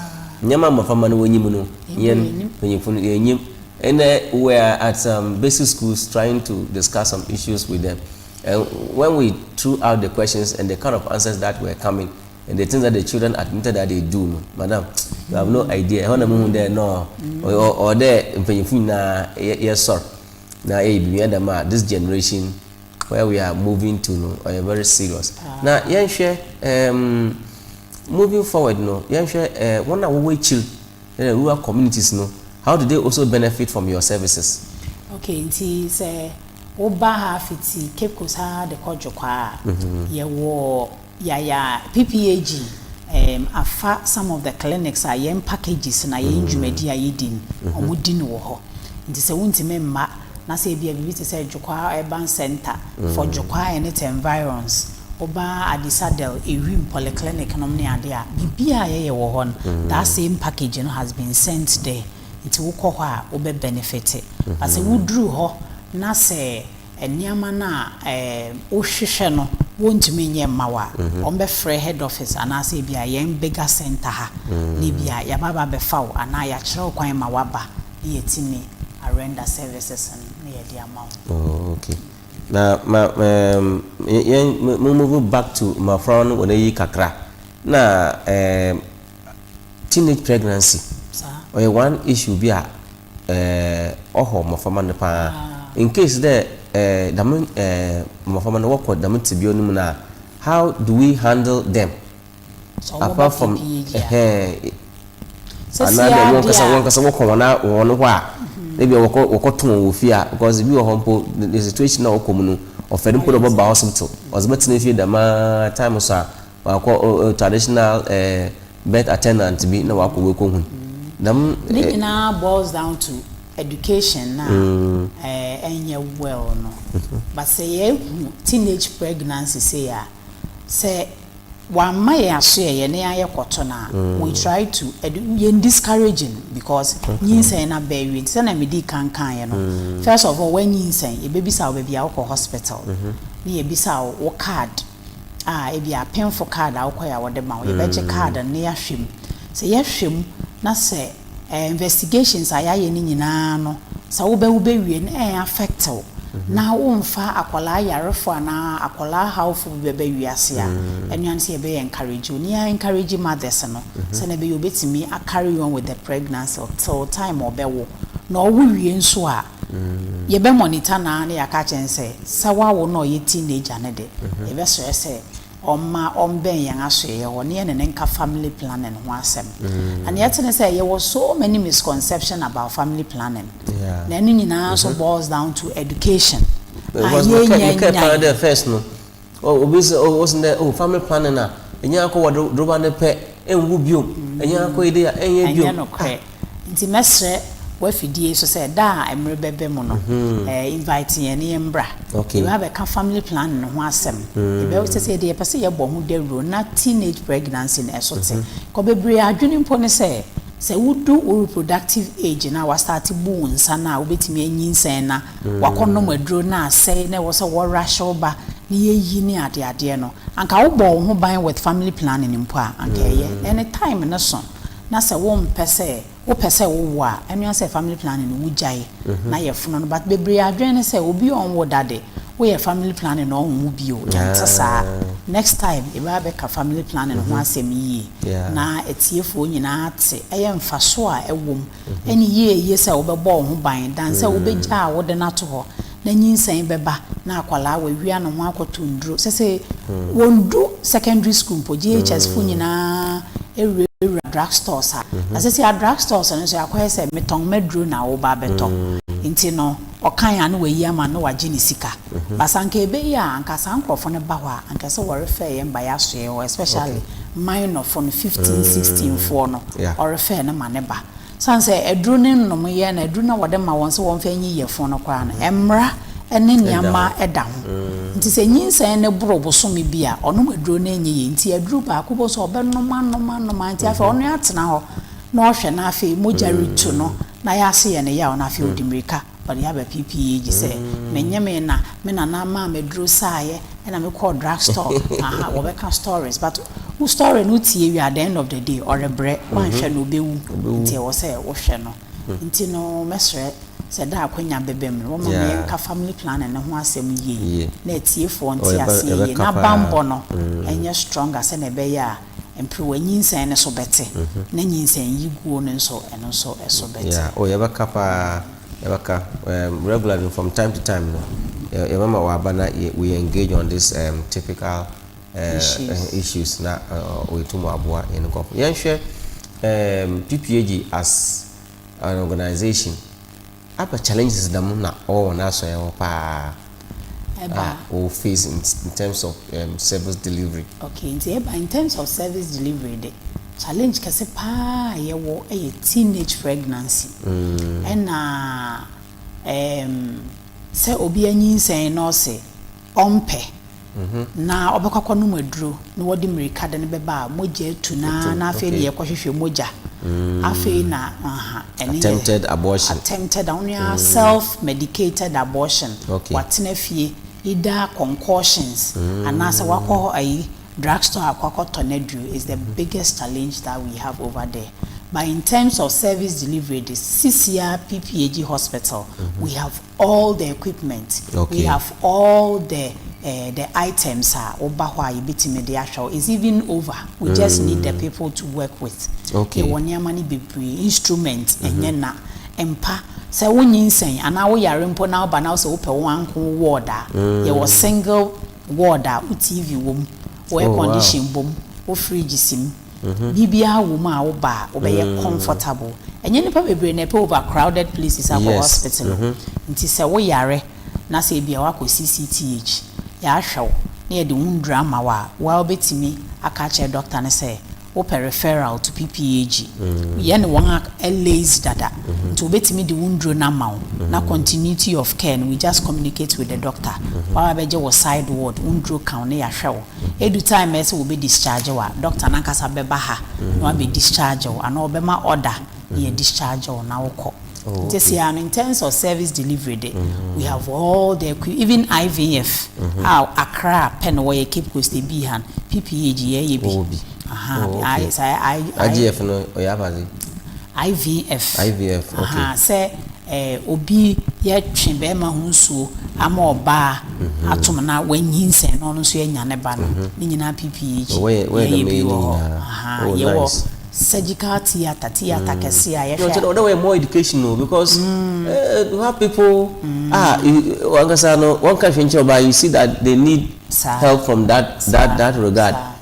Nneɛma a mmɔframma no wɔnyim no, yɛn mpanyimfo no yɛnyim. Ɛnɛ we are at some basic schools trying to discuss some issues with them. And when we threw out the questions and the kind of answers that were coming and the things that the children admitted that they do no, madam, you have no idea. Ɛhɔ na mo hu dɛ no, ɔwɔ dɛ mpanyimfo nyinaa yɛsɔr na yɛyɛ biribi ɛdɛm a this generation where we are moving to no ɔyɛ very serious na yɛnhwɛ um, moving forward no yɛnhwɛ uh, wɔn a wɔwɔ akyiri uh, rural communities no how do they also benefit from your services. okay nti sɛ woba ha fiti cape coast ha de kɔ dwokwaa a mhm. yɛwɔ. Yaya PPAG um afa some of the clinics a yɛn packages na yɛn dwumadi a yɛdi no, wɔdi no wɔ hɔ. Nti sɛ wontumi mma na sɛ ebia biribi te sɛ Dwokoa Urban Centre, Fort Dwokoa and its environs, woba Adisadel, Ewim Polyclinic nom ne ade a, biribiara a yɛyɛ wɔ hɔ no, that same package no has been sent there. Nti wokɔ hɔ a, wobɛ benefit. But sɛ woduru hɔ na sɛ nneɛma no a wohwehwɛ no wɔntumi nyɛ mma wo a, wɔbɛfrɛ head office anaasɛ ebia yɛn Bega Centre ha na ebia yɛaba abɛfa wo anaa yɛakyerɛ wo kwan ma woaba na yɛatumi arender services no na yɛde ama wo. Oh, okay. Na ma um, yɛn mo move back to mmɔfra no wɔn ayi kakra na um, teenage pregnancy. Saa. Ɔyɛ one issue bi a eh, ɔhɔ mboframba no paa. Incase dɛ eh, dɛm eh, mboframba no wɔkɔ dɛm tsebea no mu no a, how do we handle them apart from eh, anaa dɛ wɔnkasa wɔnkasa wɔkɔ hɔn hɔn hɔ a, na bi a wɔkɔ wɔkɔtõ hɔn wɔ fie a, because bi wɔ hɔ mpo the situation a wɔkɔ mu no, ɔfɛr mpo dɛ ɔbɛba hospital, ɔdze bɛtsena fie dɛm ara time so a, Ɔakɔ ɔyɛ traditional eh birth attendant bi na ɔakɔ weko hun dɛm eh. Ne nyinaa boils down to education no a eh ɛnnyɛ well no. But sɛ yɛahu teenage pregnancy sei a, sɛ wɔamma yɛn asoɛeɛ na yɛayɛ kɔto no a, we try to edu yɛn discourage no because nyinsɛn no aba awie. Nti sɛdeɛ medii kan kaeɛ no, first of all woanyinsɛn, yɛbɛbisa wo baabi a wokɔ hospital na yɛabisa wo wo card. a ebia apemfo kaad a wokɔe a wɔde ma wo, yɛbɛgye kaad no na yɛahwɛ mu. Sɛ yɛhwɛ mu na sɛ ɛɛ investigations a yɛayɛ no nyinaa no, sɛ wobɛ wobɛwie no ɛɛ affect wo na womfa akwadaa yarefo anaa akwadaa hawfo bi bɛba wiase a, ɛno ara ne sɛ yɛbɛyɛ encourage wo. Na yɛ encourage mothers no sɛnea ɛbɛyɛ a wɔbɛtumi a carry on with the pregnancy till time a wɔbɛwo. Na wɔwo wie nso a, Yɛbɛ monitor no ara na yɛaka akyerɛ no sɛ, sɛ wawo no a ɔyɛ teenager no de, yɛbɛsrɛ sɛ ɔmma ɔmbɛn yɛn asoɛeɛ hɔ na yɛne no nka family planning ho asɛm. Na nea ɛte ne sɛ, yɛwɔ so many misconception about family planning. Na ɛno nyinaa nso boils down to education a yɛnnya nyaeɛ. Oh, obi se, oh, ose ndɛ, oh, fa me pane na enya akɔ wɔ dro, droba ne pɛ, enwu biom, enya akɔ yi de a, enyɛ biom. Ɛnyɛ nokorɛ. Ah! Nti mɛsrɛ w'afidie yi so sɛ, da a mmere bɛbɛ mu no, eh, invite yɛn na yɛmbra. Okay. Yɛbɛba abɛka family planning no ho asɛm. Yɛbɛ, sɛsɛ yɛde, yɛpɛ sɛ yɛbɔ ho dawuro na teenage pregnancy no ɛso te. Kɔ bebree adwene mpo ne sɛ, sɛ wodu wo reproductive age no a, wastarte bu wo nsa no a, wobɛtumi anyinsɛn na. woakɔnom aduro na asɛe na ɛwɔ sɛ wɔ'rush wo ba ne yɛyi ne adeadeɛ no, anka wobɔɔ wo ho ban with family planning mpo a, anka ɛyɛ. Ɛne time no so na sɛ wompɛ sɛ, wopɛ sɛ wowo a, ɛno ara sɛ family planning no wogyae na yɛfono no but bebree adwene ne sɛ obi a ɔnwo da de, woyɛ family planning na ɔnwo bio, ɛnte saa. Next time yɛbɛ ba bɛka family planning ho asɛm yie na atiefoɔ nyinaa ate ɛyɛ mfasoɔ a ɛwɔ mu Ɛne yie ye sɛ wobɛbɔ wo ho ban, dan sɛ wobɛgya a wode no ato hɔ, na nyinsɛn bɛba na akwadaa wawia ne ho akɔto nnuro. Sesei wɔndu secondary school mpo, JHS fo nyinaa wurawura drug stores a, na sesei a drug stores no nso yɛakɔyɛ sɛ metɔn m'aduro na woba bɛtɔ nti no, ɔkan a na wayi ama no na wagye ne sika but sɛ anka ɛbɛyi a anka saa nkorɔfoɔ no ba hɔ a anka ɛsɛ wɔrefɛɛ yɛn ba yɛasoɛ hɔ especially minor foɔ no fifteen sixteen foɔ no ɔrefɛɛ no ma ne ba sane sɛ aduro no nnom yɛ na aduro no a wɔde ma wɔn sɛ wɔmfa nyi yɛfun no koraa no mmara ne nneɛma da ho nti sɛ nyinsɛn no boro bosome bi a ɔnom aduro no nyɛ yie nti aduro baako bohu sɛ ɔbɛnom anom anom a nti afei ɔno atena hɔ na ɔhwɛ na afei mogya retu no Na yɛase yɛ no yaw na afei ɔde mmirika ɔde aba PP gye sɛ menye me na me nana maa me aduro saeɛ ɛna me kɔɔ drug store aha wɔbɛka stories but wo story no tie wie a the end of the day ɔrebrɛ wanhwɛ no ɔbɛwu nti ɛwɔ sɛ wohwɛ no nti no mɛsrɛ sɛ da a akwanya bɛbam no wɔma me yɛnka family planning no ho asɛm yie na atiefoɔ nte aseɛ yie na banbɔ no ɛnyɛ stronger sɛnea ɛbɛyɛ a mperewa nyinsɛn no so bɛte, na nyinsɛn yiguo no nso, ɛno nso so bɛte. Yeah, oh yɛbɛka paa, yɛbɛka um, regularly no, from time to time no, yɛ, yɛbɛma w'aba na yɛ, we engage on this um, typical uh, Issues. uh, issues na uh, uh, yɛtum aboa yɛn nkorɔfo. Yɛnhwɛ um, PPAG as an organisation. Aber challenges dɛm na ɔwɔ hɔn asɔr hɔ paa a wɔwɔ face in terms of service delivery. Okay, ntsi eba in terms of service delivery de, challenge kɛse paa a yɛwɔ yɛ teenage pregnancy na sɛ obi anyinsɛn na ɔse, ɔmpɛ, na ɔbɛkɔ akɔnom aduro na wɔde mmirika de no bɛba a, mogya atu no ara na afei na yɛkɔhwehwɛ mogya. Afei na, aha, ɛno yɛ. Attempted abortion. Attempted, ɔno yɛ ara self medicated abortion. Okay. Watena fie, either concoctions, anaasɛ wakɔ ayi, drug store akɔ akɔtɔ n'aduro is the biggest challenge that we have over there. But in terms of service delivery de, sisi ara PPAG hospital, we have. All the equipment, we have all the the items a woba hɔ a yɛbɛtumi de ahwɛ wo, it's even over, we just need the people to work with. Yɛwɔ nneɛma no bebree, instrument, ɛnyɛ na, mpa, sɛ wo nyinsɛn anaa wo yare mpo na woba na wosɛ wopɛ wo anko wo ward a, yɛwɔ single ward a wo TV wɔ mu, wo air condition bɔ mu, wo fridge si mu. biribiara wɔ mu a wo ba a wobɛyɛ comfortable. Ɛnyɛ nnipa bebree na ɛpɛ over crowded places akɔ hospital o. Nti sɛ wo yare na sɛ ebia woakɔ CCTH, yɛahwɛ wo na yɛde wo nnuru ama wo a, wo ara wobɛtumi aka akyerɛ doctor no sɛ wopɛ referral to PPAG. Yɛne wɔn ayɛ liaise dada nti wɔbɛtumi de wo nnuro no ama wo na continuity of care no we just communicate with the doctor. Wo ara wobɛgye wo side ward, wo nnuro ka wo na yɛahwɛ wo. Edu time a ɛsɛ wɔbɛ discharge wo a, doctor no ankasa bɛba ha na wabɛ discharge wo anaa ɔbɛma order na yɛ discharge wo na wokɔ. Nti seɛ ara no in terms of service delivery de, we have all the equip, even IVF a Accra pɛ na wɔyɛ, Cape Coast ebii ha no, PPAG yɛyɛ bi. Wɔwɔ bi. Aha, Oh, okay. I, saa I, I, IGF no ɔyɛ afa ase? IVF. IVF, okay. Aha, sɛ Eh, obi yɛ twe bɛɛma ho nsuo ama ɔbaa atom na wanyinsɛn na ɔno nso yɛanya ne ba no, ne nyinaa PPH Oh, wɔyɛ- wɔyɛ yɛyɛ dɛm bi yɛ wɔ ne hɔ. nyinaa. Aha, Oh, yɛwɔ nice. surgical theatre, theatre kɛse a yɛhwɛ Ɔkyɛ dɛ ɔdɛ wɔyɛ more education o because eh, you have people a you- wankasa no wɔnka hwee nkyerɛ ɔbaa you see that they need Saa. help from that Saa, that that regard. saa.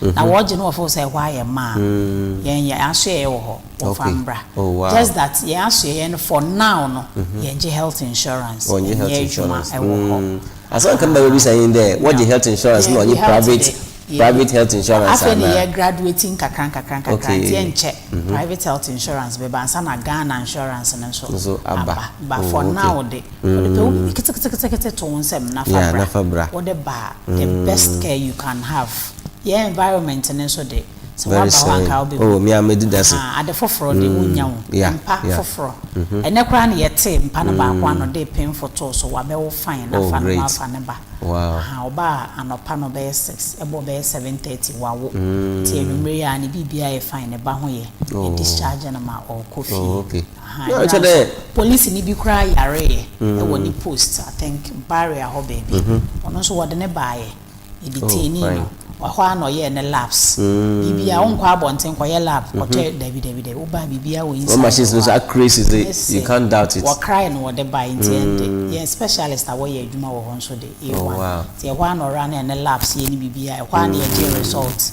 na wɔgye no wɔ fo sɛ ɛhɔ ayɛ ma a yɛn yɛn asoɛeɛ wɔ hɔ wɔmfa mbra just that yɛn asoɛeɛ no for now no yɛn gye health insurance yɛn nyɛ adwuma ɛwɔ hɔ. Asɛm nka mbɛ bɛbisa yi ndɛ wɔgye health insurance na wɔnye private private health insurance anaa. Afei na yɛ graduate nkakra nkakra nkakra nti ɛnkyɛ private health insurance bɛba ansa na Ghana insurance no nso aba but for now de. Wɔde pɛwubi ketekete to wo nsam na fa bra. Na fa bra. Wode ba a, the best care you can have. Yɛn environment no nso de, sɛ woaba hɔ a anka wobɛbu. Oh, me ara medi dase. Ahaa, ade foforɔ de, wonnya wo. Mpa foforɔ. Ɛnnɛ koraa na yɛtee mpa no baako ano de pen fotoo so, wabɛwo fine, na fa ne ho afa ne ba. Ahaa, ɔbaa anɔpa no bɛyɛ six, ɛbɔɔ bɛyɛ seven thirty, wawo. Nti anwumerɛ yi ara ne biribiara yɛ fine, ne ba ho yɛ. Yɛ discharge no ma ɔrekɔ fie. Ahaa yera nso polisini bi koraa yareeɛ wɔ ne post I think barrier hɔ baabi ɔno nso wɔde no baeɛ yɛ detainee no ɛhɔ ara na ɔyɛɛ ne labs biribiara wonkɔ abɔnten kɔyɛ lab kɔtɔ dabi dabi dabi wobaa biribiara wɔ inside machines no so accuracy dze you can't doubt it wɔkrae no wɔde baeɛ nti ɛnde yɛn specialist a wɔyɛ adwuma wɔ hɔ nso de A1 nti ɛhɔ ara na ɔraa no yɛ ne labs yɛ ne biribiara ɛhɔ ara na yɛgyee result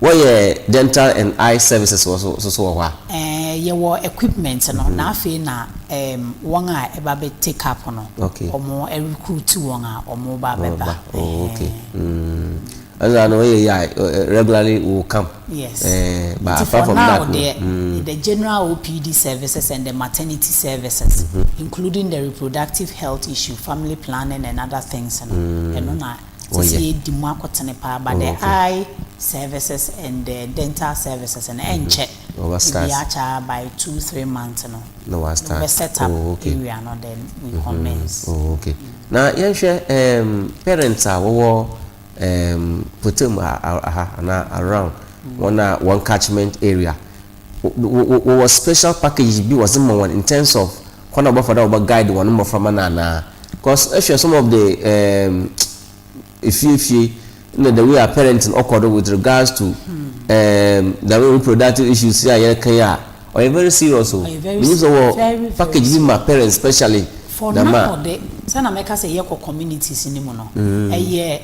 Wɔyɛ dental and eye services wɔ so nso so wɔ hɔ a. Ɛɛ yɛ wɔ equipment no na afei na ɛɛm wɔn a ɛba bɛ take up no ɔmo recruit wɔn a ɔmo ba bɛ ba ɛɛm. Ɛno na ano ɔyɛ yɛ a regularly will come ɛɛm but apart from that no. Nti for now deɛ the general OPD services and the maternity services including the reproductive health issue, family planning and other things no ɛno na. Sɛ sɛ yɛdi mu akotene paa but the eye services and the dental services no ɛnkyɛ ebi akyɛ ara by two three months no yɛbɛ set up area no then we commence. Oh okay na yɛnhwɛ um parents a wɔwɔ um Potem ha anaa around wɔn a wɔn catchment area. Wɔwɔ special packages bi wɔdze ma hɔn in terms of kwan a wɔbɛfa do a wɔbɔ guide hɔn mboframba no anaa? Cos ehwɛ some of the um efie fie na the way a parenting ɔkɔ do with regards to um the way reproductive issues yi a yɛreka yi a, ɔyɛ very serious o. Ɔyɛ very Minyim sɛ wɔwɔ serious, very, very package bi ma parents specially For dɛm a. now de, sɛ na mɛka sɛ yɛkɔ communities no mu no, ɛyɛ.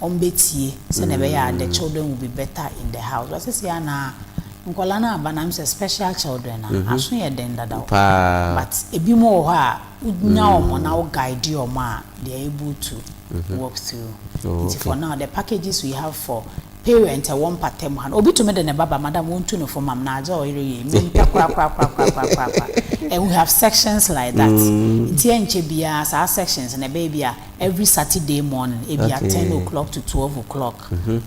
wɔn bɛtie sɛdeɛ ɛbɛyɛ a the children will be better in the house but seesei a na nkwadaa no aba na mesɛ special children a mhm. aso yɛ den dada paa but ebi mu wɔ hɔ a wonya mm. wɔn na wo guide wɔn a they are able to mhm. work through oh, nti for now the packages we have for parent ɛwɔ mpata mu ha no obi tumi de ne baba madam wontu no fam am na adze ɔyere yɛ mi mpɛ korakorakorakorakorakorakora and we have sections like that mm. nti ɛnkyɛ biara saa sections na ɛbɛyɛ bi a Every Saturday morning ebia ten o clock to twelve o clock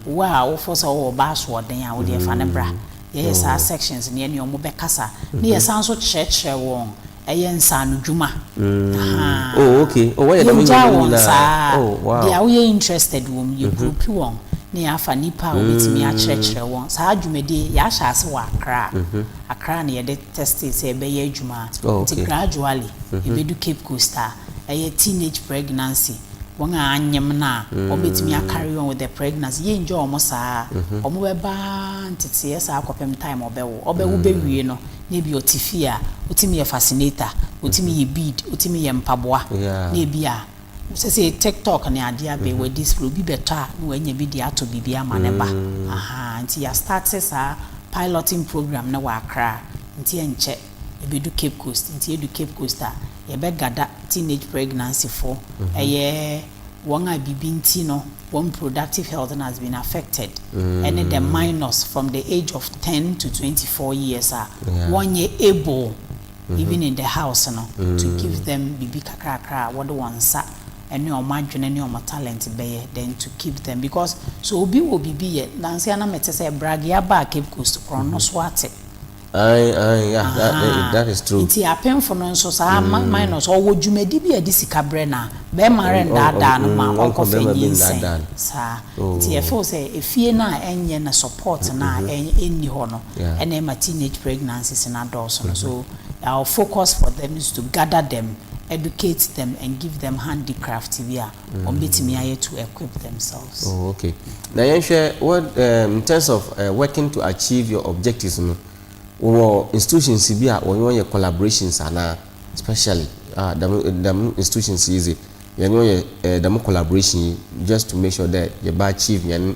wo a wo fɔ sɛ wo wɔ ba asoɔden a wo deɛ fa no bra yɛ yɛ saa sections no yɛ ne ɔmo bɛ kasa ne yɛ san so kyerɛ kyerɛ wɔn ɛyɛ nsaano dwuma ahaa yɛ gya wɔn saa deɛ a wo yɛ interested wɔ mu yɛ group wɔn ne yɛ afa nipa a wo bɛ tumi akyerɛ kyerɛ wɔn saa dwumadie yɛ ahyɛ ase wɔ akra akra na yɛ de test sɛ ɛbɛ yɛ adwuma nti gradually yɛ bɛ du cape coast a. ɛyɛ teenage pregnancy, wɔn a anyem no a wɔn bɛtumi a carry on with the pregnancy, yɛ enjoy wɔn saa, wɔn bɛba nteteɛ saa kɔpem time ɔbɛwo, ɔbɛwo bɛwie no na ebi ɔte fie a ɔtumi yɛ fascinator, ɔtumi yɛ bead, ɔtumi yɛ mpaboa, na ebi a sɛsei tiktok ne adeɛ abɛi wɔ this flow, obi bɛtɔ a na wanya bi de atɔ biribi ama ne ba, ahaa, nti yɛ starte saa piloting program no wɔ Accra, nti ɛnkyɛ. ɛbɛdu Cape Coast nti ɛdu Cape Coast a yɛbɛ gada teenage pregnancy foɔ ɛyɛ wɔn a bibi nti no wɔn reproductive health no has been affected ɛne the minors from the age of ten to twenty four years a wɔn nyɛ able even in the house no to give them bibi kakrakra a wɔde wɔn nsa ɛne wɔn adwene ne wɔn talent bɛyɛ then to keep them because sɛ obi wɔ bibi yɛ nansa na mete sɛ bragea baa Cape Coast korɔno so ate. Ae ae yeah that eh Ahaa that is true. Nti apemfo no nso saa ma minus ɔwɔ dwumadi bi a ɛde sika brɛ no a, bɛrima Ɔn ɔn ɔn rennaadaa no ma mm ɔnkɔ ɔnkɔfa bɛrima bi nyinsɛn. nnaadaa no. Saa nti Oh. yɛfeel sɛ efie no a ɛnyɛ na support no a ɛ ɛnni hɔ no Yeah. ɛna ɛma teenage pregnancies no adɔɔso no. So our focus for them is to gather them, educate them and give them handicraft bi a wɔn bɛtumi ayɛ to equip themselves. Oh, okay. Na yɛnhwɛ what um, in terms of uh, working to achieve your objectives no wɔ institutions bi a wɔn yɛ collaborations anaa especially ah dɛm dɛm institutions yi dze yɛn yɛ dɛm collaboration yi just to make sure that yɛba achieve yɛn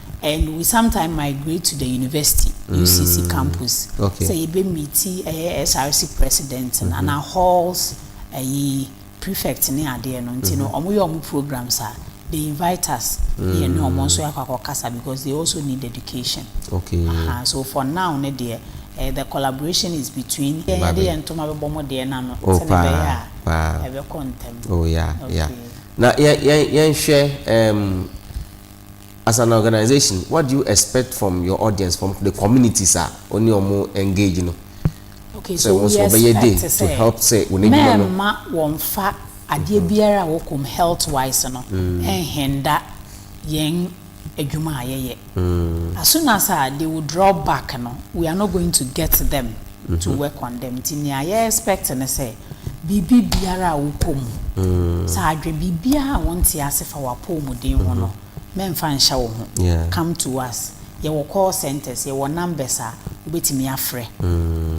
and we sometime migrate to the university UCC mm. campus okay. sɛ yɛbɛ meeti ɛyɛ eh, SRC president mm -hmm. ana halls ɛyi eh, prefect ne adeɛ no nti no wɔn mm-hmm. yɛ wɔn programs a they invite us mm. yɛn ne wɔn mm. nso yɛ akɔ akɔ kasa because they also need education okay. uh -huh. so for now ne deɛ uh, the collaboration is between yɛn yɛde yɛn ntoma bɛbɔ mo deɛ na no oh, sɛ ne bɛyɛ a ɛbɛkɔ ntɛm. oh yeah okay. yeah na yɛn yɛn yɛn hwɛ ɛɛm. Um, As an organisation what do you expect from your audience from the communities a wo ne ɔmo engage no Okay sɛ so wo nso wo bɛyɛ dei expect to sɛ help sɛ wo n'adwuma no mɛɛma wɔnfa adeɛ biara a wɔkɔm health wise no ɛnhenda yɛn adwuma a yɛyɛ as soon as a they will draw back no we are not going to get them. to wɛ kɔndɛm nti nea yɛ expect ne sɛ biribi biara a wokɔ mu sɛ adwe biribiara a wonte ase fa w'apɔwmuden ho no mɛmfa nhyɛ wo ho come to us yɛwɔ call centres yɛwɔ numbers a wobɛtumi afrɛ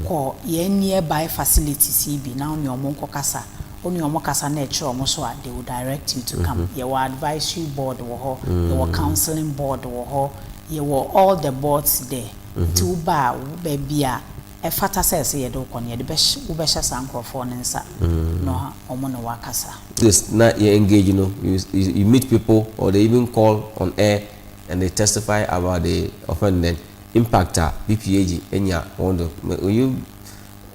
kɔ yɛn nearby facilities yi bi na wone ɔmo nkɔ kasa wone ɔmo kasa na ɛkyerɛ ɔmo so a they will direct you to come yɛwɔ advisory board wɔ hɔ yɛwɔ counseling board wɔ hɔ yɛwɔ all the boards there. Nti wobaa baabi a ɛfata sɛ ɛsɛ yɛde wo kɔ no, yɛde bɛhyɛ, wobɛhyɛ saa nkorɔfoɔ no nsa na wɔn ne wo akasa. This na yɛ engage no, you, you, you meet people or they even call on air and they testify about the offended impact a PPAG anya wɔn do. Would you,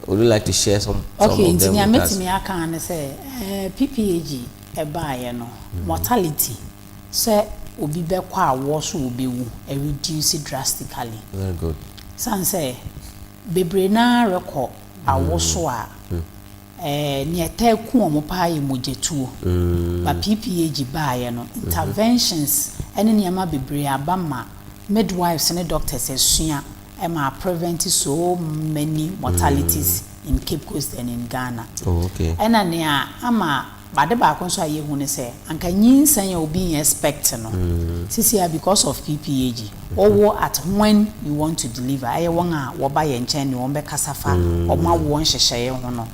would you like to share some, some Okay, of them with us? Okay, nti nea mɛtumi aka ara ne sɛ, ɛɛ PPAG ɛbaeɛ no, mortality. Sɛ obi bɛkɔ a wɔ so wɔ bɛ wu ɛreduce drastically. Very good. Sane sɛ bebree no ara rekɔ awo so a ɛɛ nea ɛtaa ku wɔn paa yɛ mogyatuo. But PPAG baeɛ no interventions ɛne nneɛma bebree aba ma midwives ne doctors asua ɛma a prevent so many mortalities in Cape Coast and in Ghana. Oh okay. Ɛna nea ama. Ade baako nso a yɛhu ne sɛ anka nyinsɛn a obi expect no sesei a because of PPAG wɔwo at when you want to deliver ɛyɛ wɔn a wɔba yɛn nkyɛn ne wɔn bɛkasa fa wɔn awoɔ nhyehyɛeɛ ho no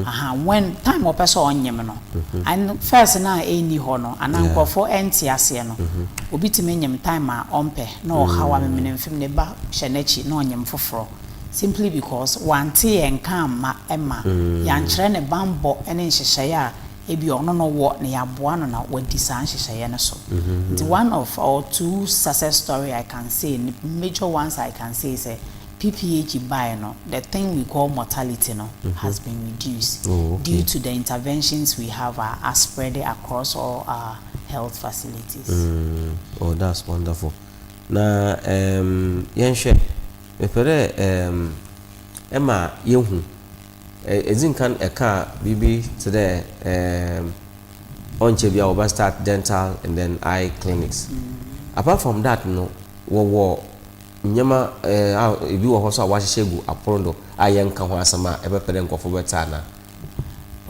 ahaa when time wɔpɛ sɛ ɔnyem no and first no a ɛnni hɔ no anaa nkurɔfoɔ ɛnte aseɛ no obi tumi nyem time a ɔmpɛ na ɔhaw a memenemfem ne ba hyɛ n'akyi na ɔnyem foforɔ. simply because wante yɛn nka amma ɛmma yɛankyerɛ ne bammɔ ne nhyehyɛeɛ a ebia ɔno na ɔwɔ na yɛaboa no na wadi saa nhyehyɛeɛ no so. Nti one of or two success story I can say ne major ones I can say sɛ PPAG baeɛ no the thing we call mortality no has been reduced due to the interventions we have a aspread across all our health facilities. Oh that's wonderful na um yɛnhwɛ. Mepɛ dɛ eem ema yehu, edzi nkan ekaa biribi tse dɛ eem ɔnnkyɛ biara wɔbɛ start dental and then eye clinics. Apart from that no wɔwɔ ndzɛmba eeh a bi wɔ hɔ so a wɔahyehyɛ gu apon do a yɛnnka ho asɛm a ebɛpɛ dɛ nkorɔfo bɛtse ana?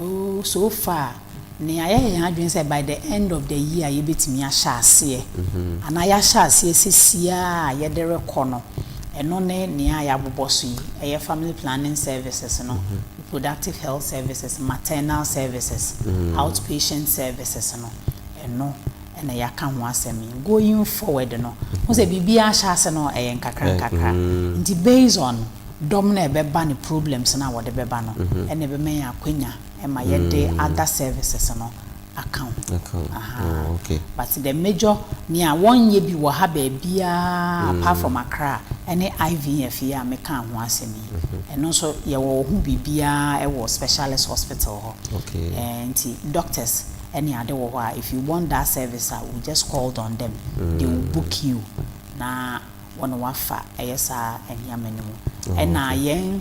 Oh, so far, nea yɛyɛ yɛn adwene sɛ by the end of the year yebetumi ahyɛ aseɛ, anaa yɛahyɛ aseɛ sesie ara a yɛde rekɔ no, ɛno ne nea yɛabobɔ so yi, ɛyɛ family planning services no, reproductive health services, maternal services, outpatient services no, ɛno na yɛaka ho asɛm yi. Going forward no, wohu sɛ biribiara ahyɛ ase no, ɛyɛ nkakrankakra. Nti based on. Dɔm no a ɛbɛba ne problems no a wɔde bɛba no na ɛbɛma yɛn akwanya ma yɛde other services no aka ho. But the major nea wɔnyɛ bi wɔ ha baabiara apart from Accra ne IVF yi a mekaa ho asɛm yi. Ɛno nso yɛwɔ ho biribiara wɔ specialist hospital hɔ. Nti doctors ne ade wɔ hɔ a if you want that service a you just called on them, they will book you na wɔ no wafa ɛyɛ saa nneɛma no mu ɛna yɛn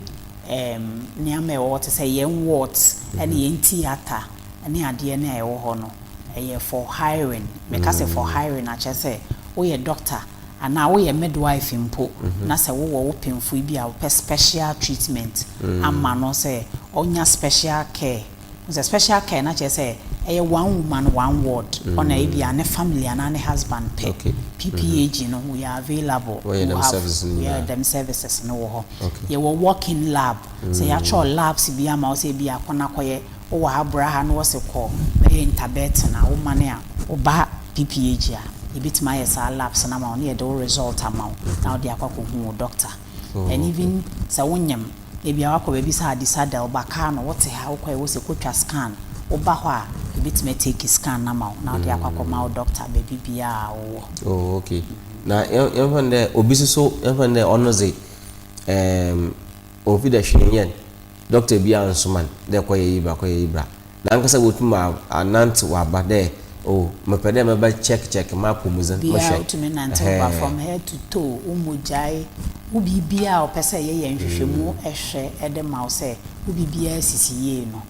ɛɛm nneɛma ɛwɔ hɔ te sɛ yɛn ward ɛne yɛn theatre ɛne adeɛ no a ɛwɔ hɔ no ɛyɛ for hiring meka sɛ for hiring akyɛ sɛ woyɛ doctor anaa woyɛ midwife mpo na sɛ wowɔ wo pemfoe bi a wopɛ special treatment ama no sɛ ɔnya special care Wohu sɛ special care no akyerɛ sɛ ɛyɛ one woman one ward ɔna ebia ne family anaa ne husband pɛ Okay. PPAG no we are available Wɔyɛ to dɛm have services no yɛ nyinaa. dɛm services no wɔ hɔ Okay. yɛwɔ walk in lab sɛ yɛatwerɛ labs bi ama wo sɛ ebia kɔ na kɔyɛ wowɔ ha bra ha na wɔse kɔ bɛyɛ interbex na wo mane a woba PPAG a yɛbɛtumi ayɛ saa labs no ama wo na yɛde wo result ama wo na wode akɔ akɔhu wo doctor and even sɛ wonyem Ebia woakɔ baabi sɛ Adisa da, ɔbakaa no, wote ha, wokɔe, wose kɔtwa scan, woba hɔ a, yɛbɛtumi atake scan no ama wo na wode akɔ akɔma wo dɔkta baabi biara a wowɔ. Oh, ok. Na yɛmfa no dɛ obi nso so, yɛmfa no dɛ ɔno dze, ɛɛm, ɔmmfi dɛ hwee nnyɛ no, dɔkta biara nnsoma no dɛ kɔyɛ yi bra, kɔyɛ yi bra. Nankasa botum anantsew aba dɛ, Oh, mepɛ dɛ mɛbɛ check check m'apɔwmudzen, Bia mehwɛ, otumi nantsew ba ɛhɛɛ. from head to toe, wo mogyae, wo biribiara a wɔpɛ sɛ yɛyɛ nhwehwɛmu hwɛ de ma wo sɛ wo biribiara sisi yie no,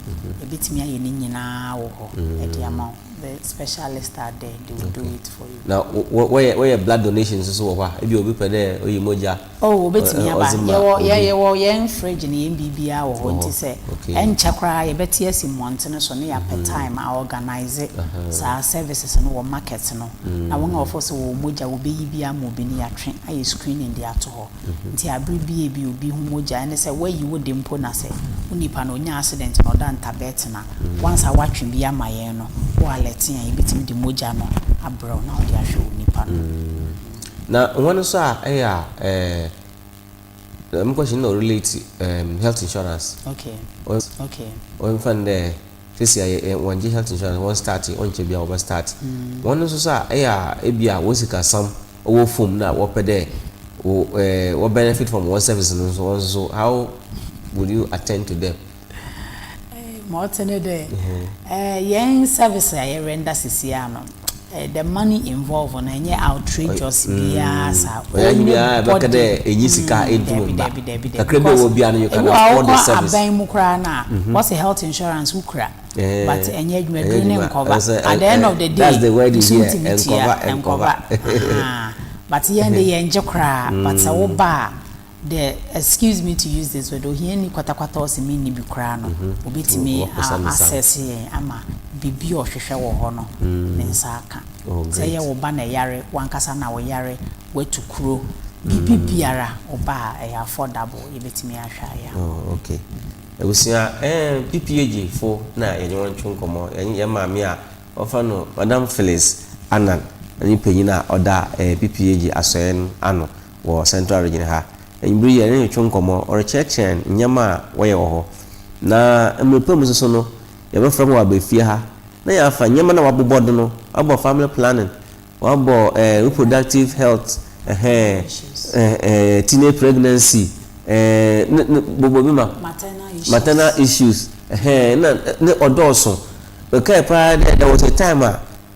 yɛbɛtumi ayɛ ne nyinaa wɔ hɔ de ama wo. The specialists are there, they will do it for you. Na wɔyɛ blood donation nso so wɔ hɔ a, ebia obi pɛ dɛ oyi mogya a. Oh, obetumi aba. Yɛwɔ, yɛ, yɛwɔ yɛn fridge ne yɛn biribiara wɔ hɔ, nti sɛ ɛnkyɛ koraa yɛbɛte asi mmɔntene so ne yɛapɛ time a organise saa services no wɔ market no, na wɔn a wɔfeel sɛ wɔwɔ mogya wɔbɛyi bi ama obi no yɛatwe ayɛ screening de ato hɔ. Nti abere bi a ebia obi ho mogya, ɛne sɛ wɔayi wo de mpo na sɛ wo nipa no ɔnya accident na ɔda ntabɛɛten a, once a wɔatwe bi ama yɛn no, wo alert yɛn a yɛbɛtumi de mogya no abrɛ wo na wode ahwɛ wo nipa no. Na hɔn so a eyɛ a dɛm question no na ɔrelate health insurance wɔmfa no dɛ sesei a wɔnngye health insurance wɔn start yɛ ɔnnkyɛr biara wɔbɛ start hɔn so so a eyɛ a bi a hɔn sikasɛm wɔ famu na wɔpɛ dɛ wɔ benefit from hɔn services no so hɔn so how will you attend to them. Ma ɔtse ne dɛ, hɛn service a yɛrenda seseiara no, the money involved no nnyɛ outrageous biara sa. Ɔyɛ anybody. Ɔyɛ nyia bɛka dɛ enye sika etum mba. Dabi, dabi, dabi. Kakra bi a ɔwɔ biara no, you can afford the service. Ebi wɔ hɔ a, wokɔ aban mu koraa no a, wɔse health insurance wokura, but ɛnnyɛ edwuma, dur no nnkɔba. At the end of the day, nsu nntumi tua, nnkɔba. But hɛn dze, yɛnngye koraa, but sɛ woba a, The, excuse me to use this word, ohiani kwatakwata a ɔse menni bi koraa no, obetumi a-assess yɛn ama biribi a ɔhwehwɛ wɔ hɔ no, ne nsa aka. Sɛ ɛyɛ wo ba na ɛyare, w'ankasa na woyare, woatu kuro, biribi biara, wo ba a, ɛyɛ affordable, yɛbetumi ahwɛ ayɛ ama wo. Oh, okay. Abusua, eh, PPAG fo na yɛne wɔn twe nkɔmmɔ. Yɛn, yɛn maame a wɔfrɛ no Madam Phyllis Annan ne panyin a ɔda, eh, PPAG asɔɛe no ano. wɔ Central Region ha. Anwummere yi, yɛne no retwe nkɔmmɔ, ɔrekyerɛkyerɛ yɛn nneɛma a wɔyɛ wɔ hɔ. Na mmere pa mu nso no, yɛbɛfrɛ no waba fie ha na yɛafa nneɛma no a wɔabobɔ do no, wɔabɔ family planning, wɔabɔ eh, reproductive health, ɛhɛn, eh, eh, teenage pregnancy, eh, ne, ne, bobɔ bi ma, maternal issues, ɛhɛn, na ne ɔdɔɔso. Mekae paa dɛ there was a time a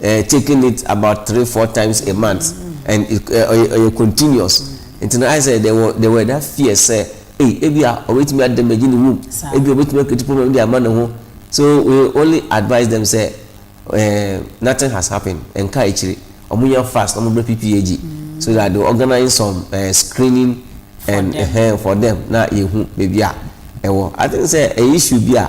eh taking it about three four times a month and it eh ɔyɛ ɔyɛ continuous nti no ayɛ sɛ there were there were that fear sɛ ei ebia ɔbɛtumi a damage ne womb ebia ɔbɛtumi a create problem de ama ne ho so we only advise them sɛ eh nothing has happened ɛnka akyire ɔmo nya fast na ɔmo brɛ PPAG so that they organize some eh screening and eh for them na yɛhu baabi a ɛwɔ I think sɛ ɛyɛ issue bi a.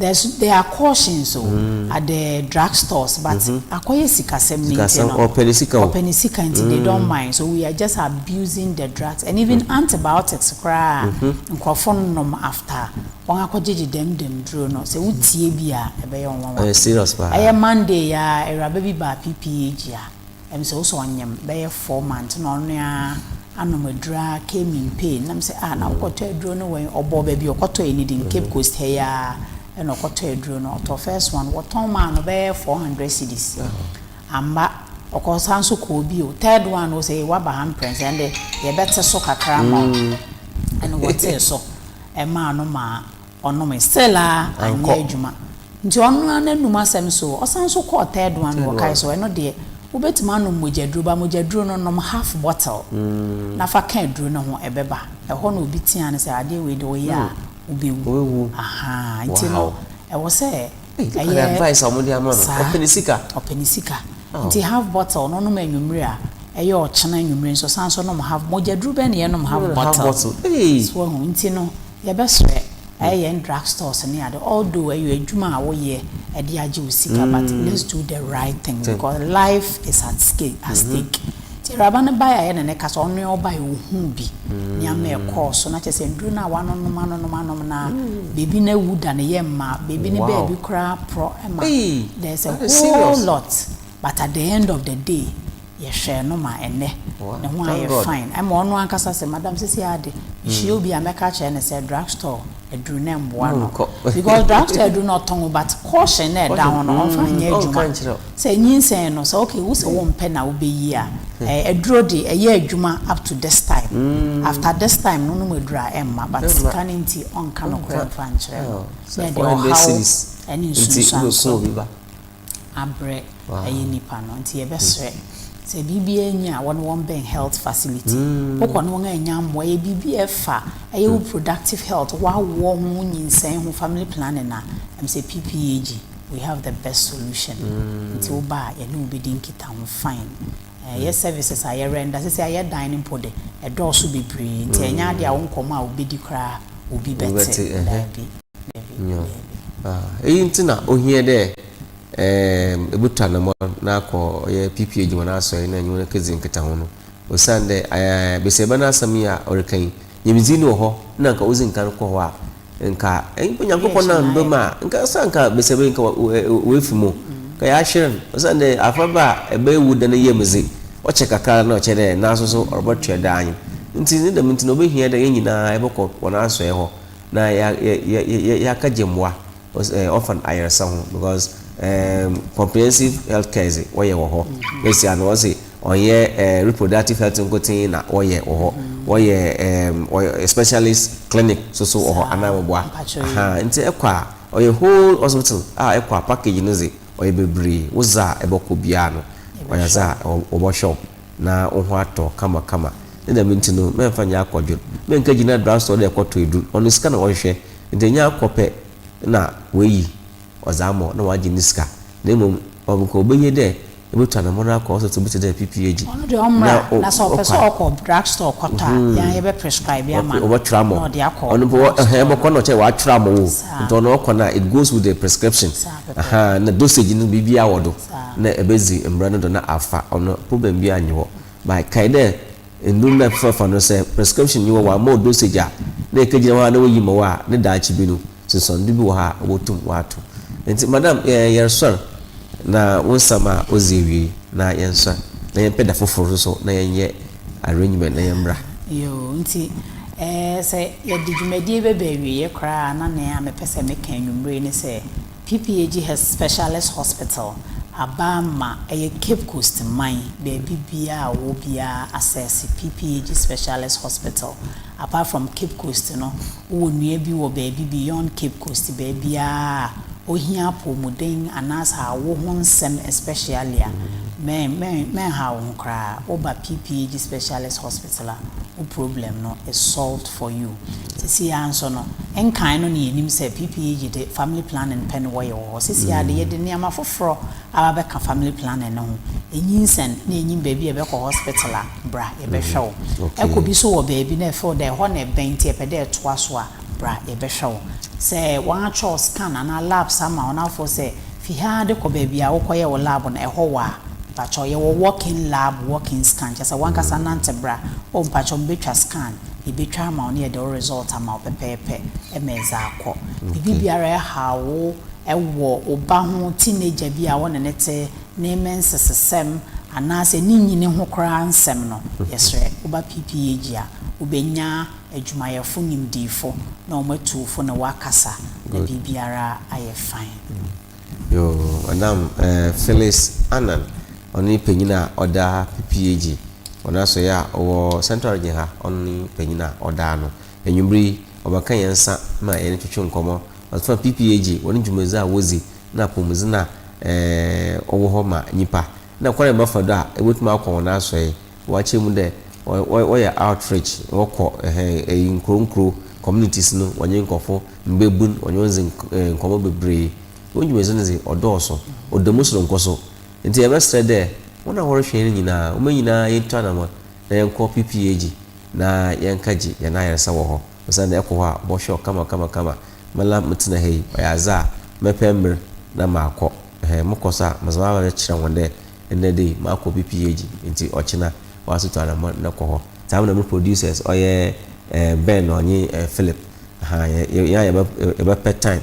There's there are cautions o at the drug stores but akɔyɛ sikasɛm ne nti no ɔpɛ ne sika o ɔpɛ ne sika nti they don't mind so we are just abusing the drugs and even antibiotics koraa nkorɔfo nom after wɔn akɔgyegye dɛm dɛm duro no sɛ wo tie bi a ɛbɛyɛ wo nwanwa ɛyɛ serious paa ɛyɛ Monday yi ara awuraba bi baa PPAG a Na me sɛ wo sɛ ɔnyem bɛyɛ four months na ɔno a anom aduro a kemi mpee na me sɛ ah na wo kɔtɔ aduro no wɛn ɔbɔɔ baabi ɔkɔtɔ yɛ ne din cape coast ha yi ara ɛna ɔkɔtɔ aduro no ɔtɔ first one wɔtɔn maa no bɛyɛ four hundred cedis amba ɔkɔ saa nso kɔɔ bi o third one no sɛ waba ha mprɛnsa ɛnde yɛbɛte so kakra ma mm. ɛna wɔtee so ɛmaa no maa Ɔnomee. Cell a anyɛ adwuma. Nti ɔno ara n'anum asɛm so. Ɔsan nso kɔɔ third one no wɔkae so, ɛno deɛ, wobɛtumi anom mogyaduro ba mogyaduro no nom half bottle na fa ka aduro no ho, ɛbɛba. Ɛhɔ na obi teaa no sɛ, adeɛ wei deɛ woyɛ a wobɛwu. Ahaa, nti no ɛwɔ sɛ ɛyɛ saa. Ɔpɛ ne sika. Nti half bottle no ɔnom anwummere a ɛyɛ ɔkyena anwummere nso ɔsan nso nom half. Mogyaduro bɛn na yɛnom half bottle? So woahu? Nti no. Yɛbɛsrɛ ɛyɛ yɛn drug stores ne ade although ɛyɔ adwuma a wo yɛ ɛde agye wo sika but let's do the right thing because life is at stake at stake nti awuraba no baeɛ a yɛ ne no kasa ɔnoɛ ɔbaeɛ ɔhuu bi nneɛma ɛkɔɔ so na kyerɛ sɛ nnuro no a wanonom anonom anom no a baby no awu da ne yam ma baby no baabi koraa porɔ ma there's a whole lot but at the end of the day Yɛhwɛɛ no ma ɛnnɛ, ne ho ayɛ fine. Ɛma ɔno ankasa sɛ, Madam, seesei ara de, mehyia obi a, mɛka akyerɛ no sɛ drug store aduru no mmoa no. Because drug store aduru no ɔtɔn o, but caution no a ɛda ho no, ɔmfa nyɛ adwuma. Sɛ nyinsɛn no, sɛ okay, wo sɛ wompɛ na wobɛyi a, ɛɛ, aduro de, ɛyɛ adwuma up to this time. After this time no, wonom aduru a, ɛmma. But sika no nti, ɔnka nokorɛ mfa nkyerɛ no. Ɛnneɛ deɛ, ɔhaw ne nsunsuansoɔ. abrɛ ɛyɛ nnipa no nti yɛbɛsrɛ sɛ biribiara nyi a wɔne wɔn bɛn health facility mm. wokɔ ne wɔn a ɛnya mmoa ɛyɛ biribi a ɛfa ɛyɛ wo productive health wawoɔ ho nyinsɛn ho family planning a ɛm sɛ ppag we have the best solution mm. nti woba a yɛne wobɛdi nkita ho fine ɛyɛ eh, services a yɛrɛ nda sɛ sɛ ayɛ dan no mpo de ɛdɔɔso bebree nti ɛnyɛ adeɛ a wo nkɔmmɔ a wobɛdi koraa obi bɛte daabi Nyew, iyi ntsi na ohia dɛ yebotu anamɔn na akɔ ɔyɛ PPA dwuma na asɔr na nye hɔn ekedzi nkitaho no. Osiandɛ basiaba no asɛm yi a ɔrekã yi, nyimdzee no wɔ hɔ na nka odzi nkan kɔ hɔ a, nka nyimpa Nyankopɔn no ammba mu a, nka ɔsɛ a nka basiaba yi nka oefi mu, nka yɛahwer no. Osiandɛ afɔrbaa a ebɛyewu da ne yamu dze, ɔkyɛ kakra na ɔkyɛ dɛ naaso so ɔrobɔtoa do anyew. Ntsi ne dɛm ntsi na obehia dɛ hɛn nyina yɛbɔkɔ hɔn asɔɛe hɔ. Na yɛaka gye mboa ɔs orphan ayarsa ho because erm comprehensive health care dze wɔyɛ wɔ hɔ. Bɛsia no wɔse ɔnnyɛ erm reproductive health nkotsee na wɔyɛ wɔ hɔ, wɔyɛ erm specialist clinic so so wɔ hɔ, ananmboa ahaa. Ntsi ekɔ a ɔyɛ whole hospital a ekɔ a package no dze ɔyɛ beberee, wo dza a ebɔkɔ biara no ɔyɛ dza a wɔbɔhwɛ wo. na wo ho atɔ kamakama, ne dɛm ntsi no, mɛmmfa nnyɛ akɔdwen, mennkegyina do asɔr dɛ kɔtɔ edur, ɔno sika na ɔhwehwɛ, ntsi nnyɛ akɔ pɛ na oeyi ɔdze ama wo na ɔagye ne sika, na mbom nka obehia dɛ ebotu anamɔn akɔ asɔrtse bi tse dɛ PPAG Ɔno de ɔmmra, na na sɛ ɔpɛ sɛ ɔkɔ drug store kɔtɔ a, yɛn ara yɛbɛ prescribe ama no wɔbɔtwerɛ ama na wo, ɔde akɔ ɔno mpo drug ɛhɛn store ɛbɔkɔ no. na ɔkyerɛ dɛ wɔatwerɛ ama wo o, Saa. ntsi ɔno ɔkɔ no a it goes with the prescription, Saa pɛpɛɛpɛ. ahaa, na dosage no biribiara wɔ do. na ebedzi mbrɛ no do na afa ɔno problem biara nnyi hɔ. But kae dɛ ndur no a ebɛfefafa no sɛ prescription nnyi hɔ wɔamma wo dosage a na ekegyina hɔ ara na woyi ma wo a ne daakye bi no nsunsuando bi wɔ hɔ a wobotum wɔato. Ntsi madam yɛ yɛrsoɛr na wo nsɛm a odzi ewiei na yɛnsoɛr na yɛmpɛ da fofor so so na yɛnyɛ arrangement na yɛmbra. Yoo, ntsi sɛ yɛdze dwumadie yi bɛba awieɛ koraa a na nea mepɛ sɛ meka anwumerɛ yi ne sɛ, PPAG Health Specialist Hospital aba ma ɛyɛ Cape Coast man baabi biara a ɔwɔ biara asɛɛse PPAG Specialist Hospital. Apart from Cape Coast no, wowɔ nua bi wɔ baabi beyond Cape Coast baabiara a ɔhia apɔwmuden anaasɛ awo ho nsɛm especially a, mɛn, mɛn, mɛnhaw wo ho koraa, woba PPAG Specialist Hospital. Tesla wo problem no is solved for you sesei ara nso no nkan no na yɛnim sɛ PPAG de family planning pɛ na wɔyɛ wɔ hɔ sesei ara de yɛde nneɛma foforɔ aba abɛka family planning no ho ɛnyinsɛn na ɛnyim baabi a ɛbɛkɔ hospital a bra yɛbɛhwɛ wo ɛkɔ bi so wɔ baabi na ɛfeel dɛ ɛhɔ na ɛbɛn nti ɛpɛ dɛ ɛtoa so a bra yɛbɛhwɛ wo sɛ wɔatwerɛ scan anaa labs ama wo na afo sɛ Fi ha de kɔ baabi a wokɔyɛ wo lab no, ɛhɔ wɔ a? Mpakyɛw, yɛwɔ walk-in lab, walk-in scan, kyerɛ sɛ w'ankasa nante bra. Oh, mpakyɛw, mebetwa scan? Yebetwa ama wo na yɛde wo result ama wo pɛpɛɛpɛ ma edze akɔ. Biribi biara a ɛhaw wo wɔ wo ba ho, teenager bi a wo ne no te, ne mmensesesɛm, anaasɛ ne nyini ho koraa nsɛm no, yɛsrɛ, wo ba PPAG a, wobenya adwumayɛfo nimdefo na wɔn atuwfo na wɔakasa na biribiara ayɛ fine. Yoo madam eh Phyllis Annan ɔne panyin a ɔda PPAG wɔn asɔe a ɔwɔ central region ha ɔne panyin a ɔda ano anwummere yi ɔbɛka yɛn nsa ma yɛne twetwe nkɔmmɔ ɔfa PPAG wɔn dwumadzi a wɔdzi na apɔmudzen a eh ɔwɔ hɔ ma nyipa na kwan a yɛbɛfa do a ebetumi akɔ wɔn asɔe Wɔakyerɛ mu dɛ wɔ wɔyɛ outreach, wɔkɔ hɛn eyi nkurow nkurow, communities no, wɔnye nkorɔfo, mbabun, wɔnye hɔn dzi nk eh nkɔmbɔ beberee. Hɔn dwumadzi no dze, ɔdɔɔ so. Ɔda mu soronko so. Ntsi yɛbɛserɛ dɛ hɔn a wɔrohwɛ hɛn no nyina, hom nyina yentu anamɔn na yɛnkɔ PPAG na yɛnkã gye hɛn ayarsa wɔ hɔ. Osiandɛ ekɔ hɔ a, wɔbɔhwɛ wo kama kama kama. Me la metsena ha yi, ɔyɛ adze a mɛpɛ mber na makɔ. Hɛn mokɔ so a, medze m'abaw no kyerɛ hɔn dɛ Ndɛ dei makɔ me PhD ntsi ɔkyena ɔasotu anamɔn na kɔ hɔ. Dza me na mo producers ɔyɛ Ben na ɔnye Philip, ahaa, yɛ, yɛ, yɛn a yɛbɛ, yɛbɛpɛ time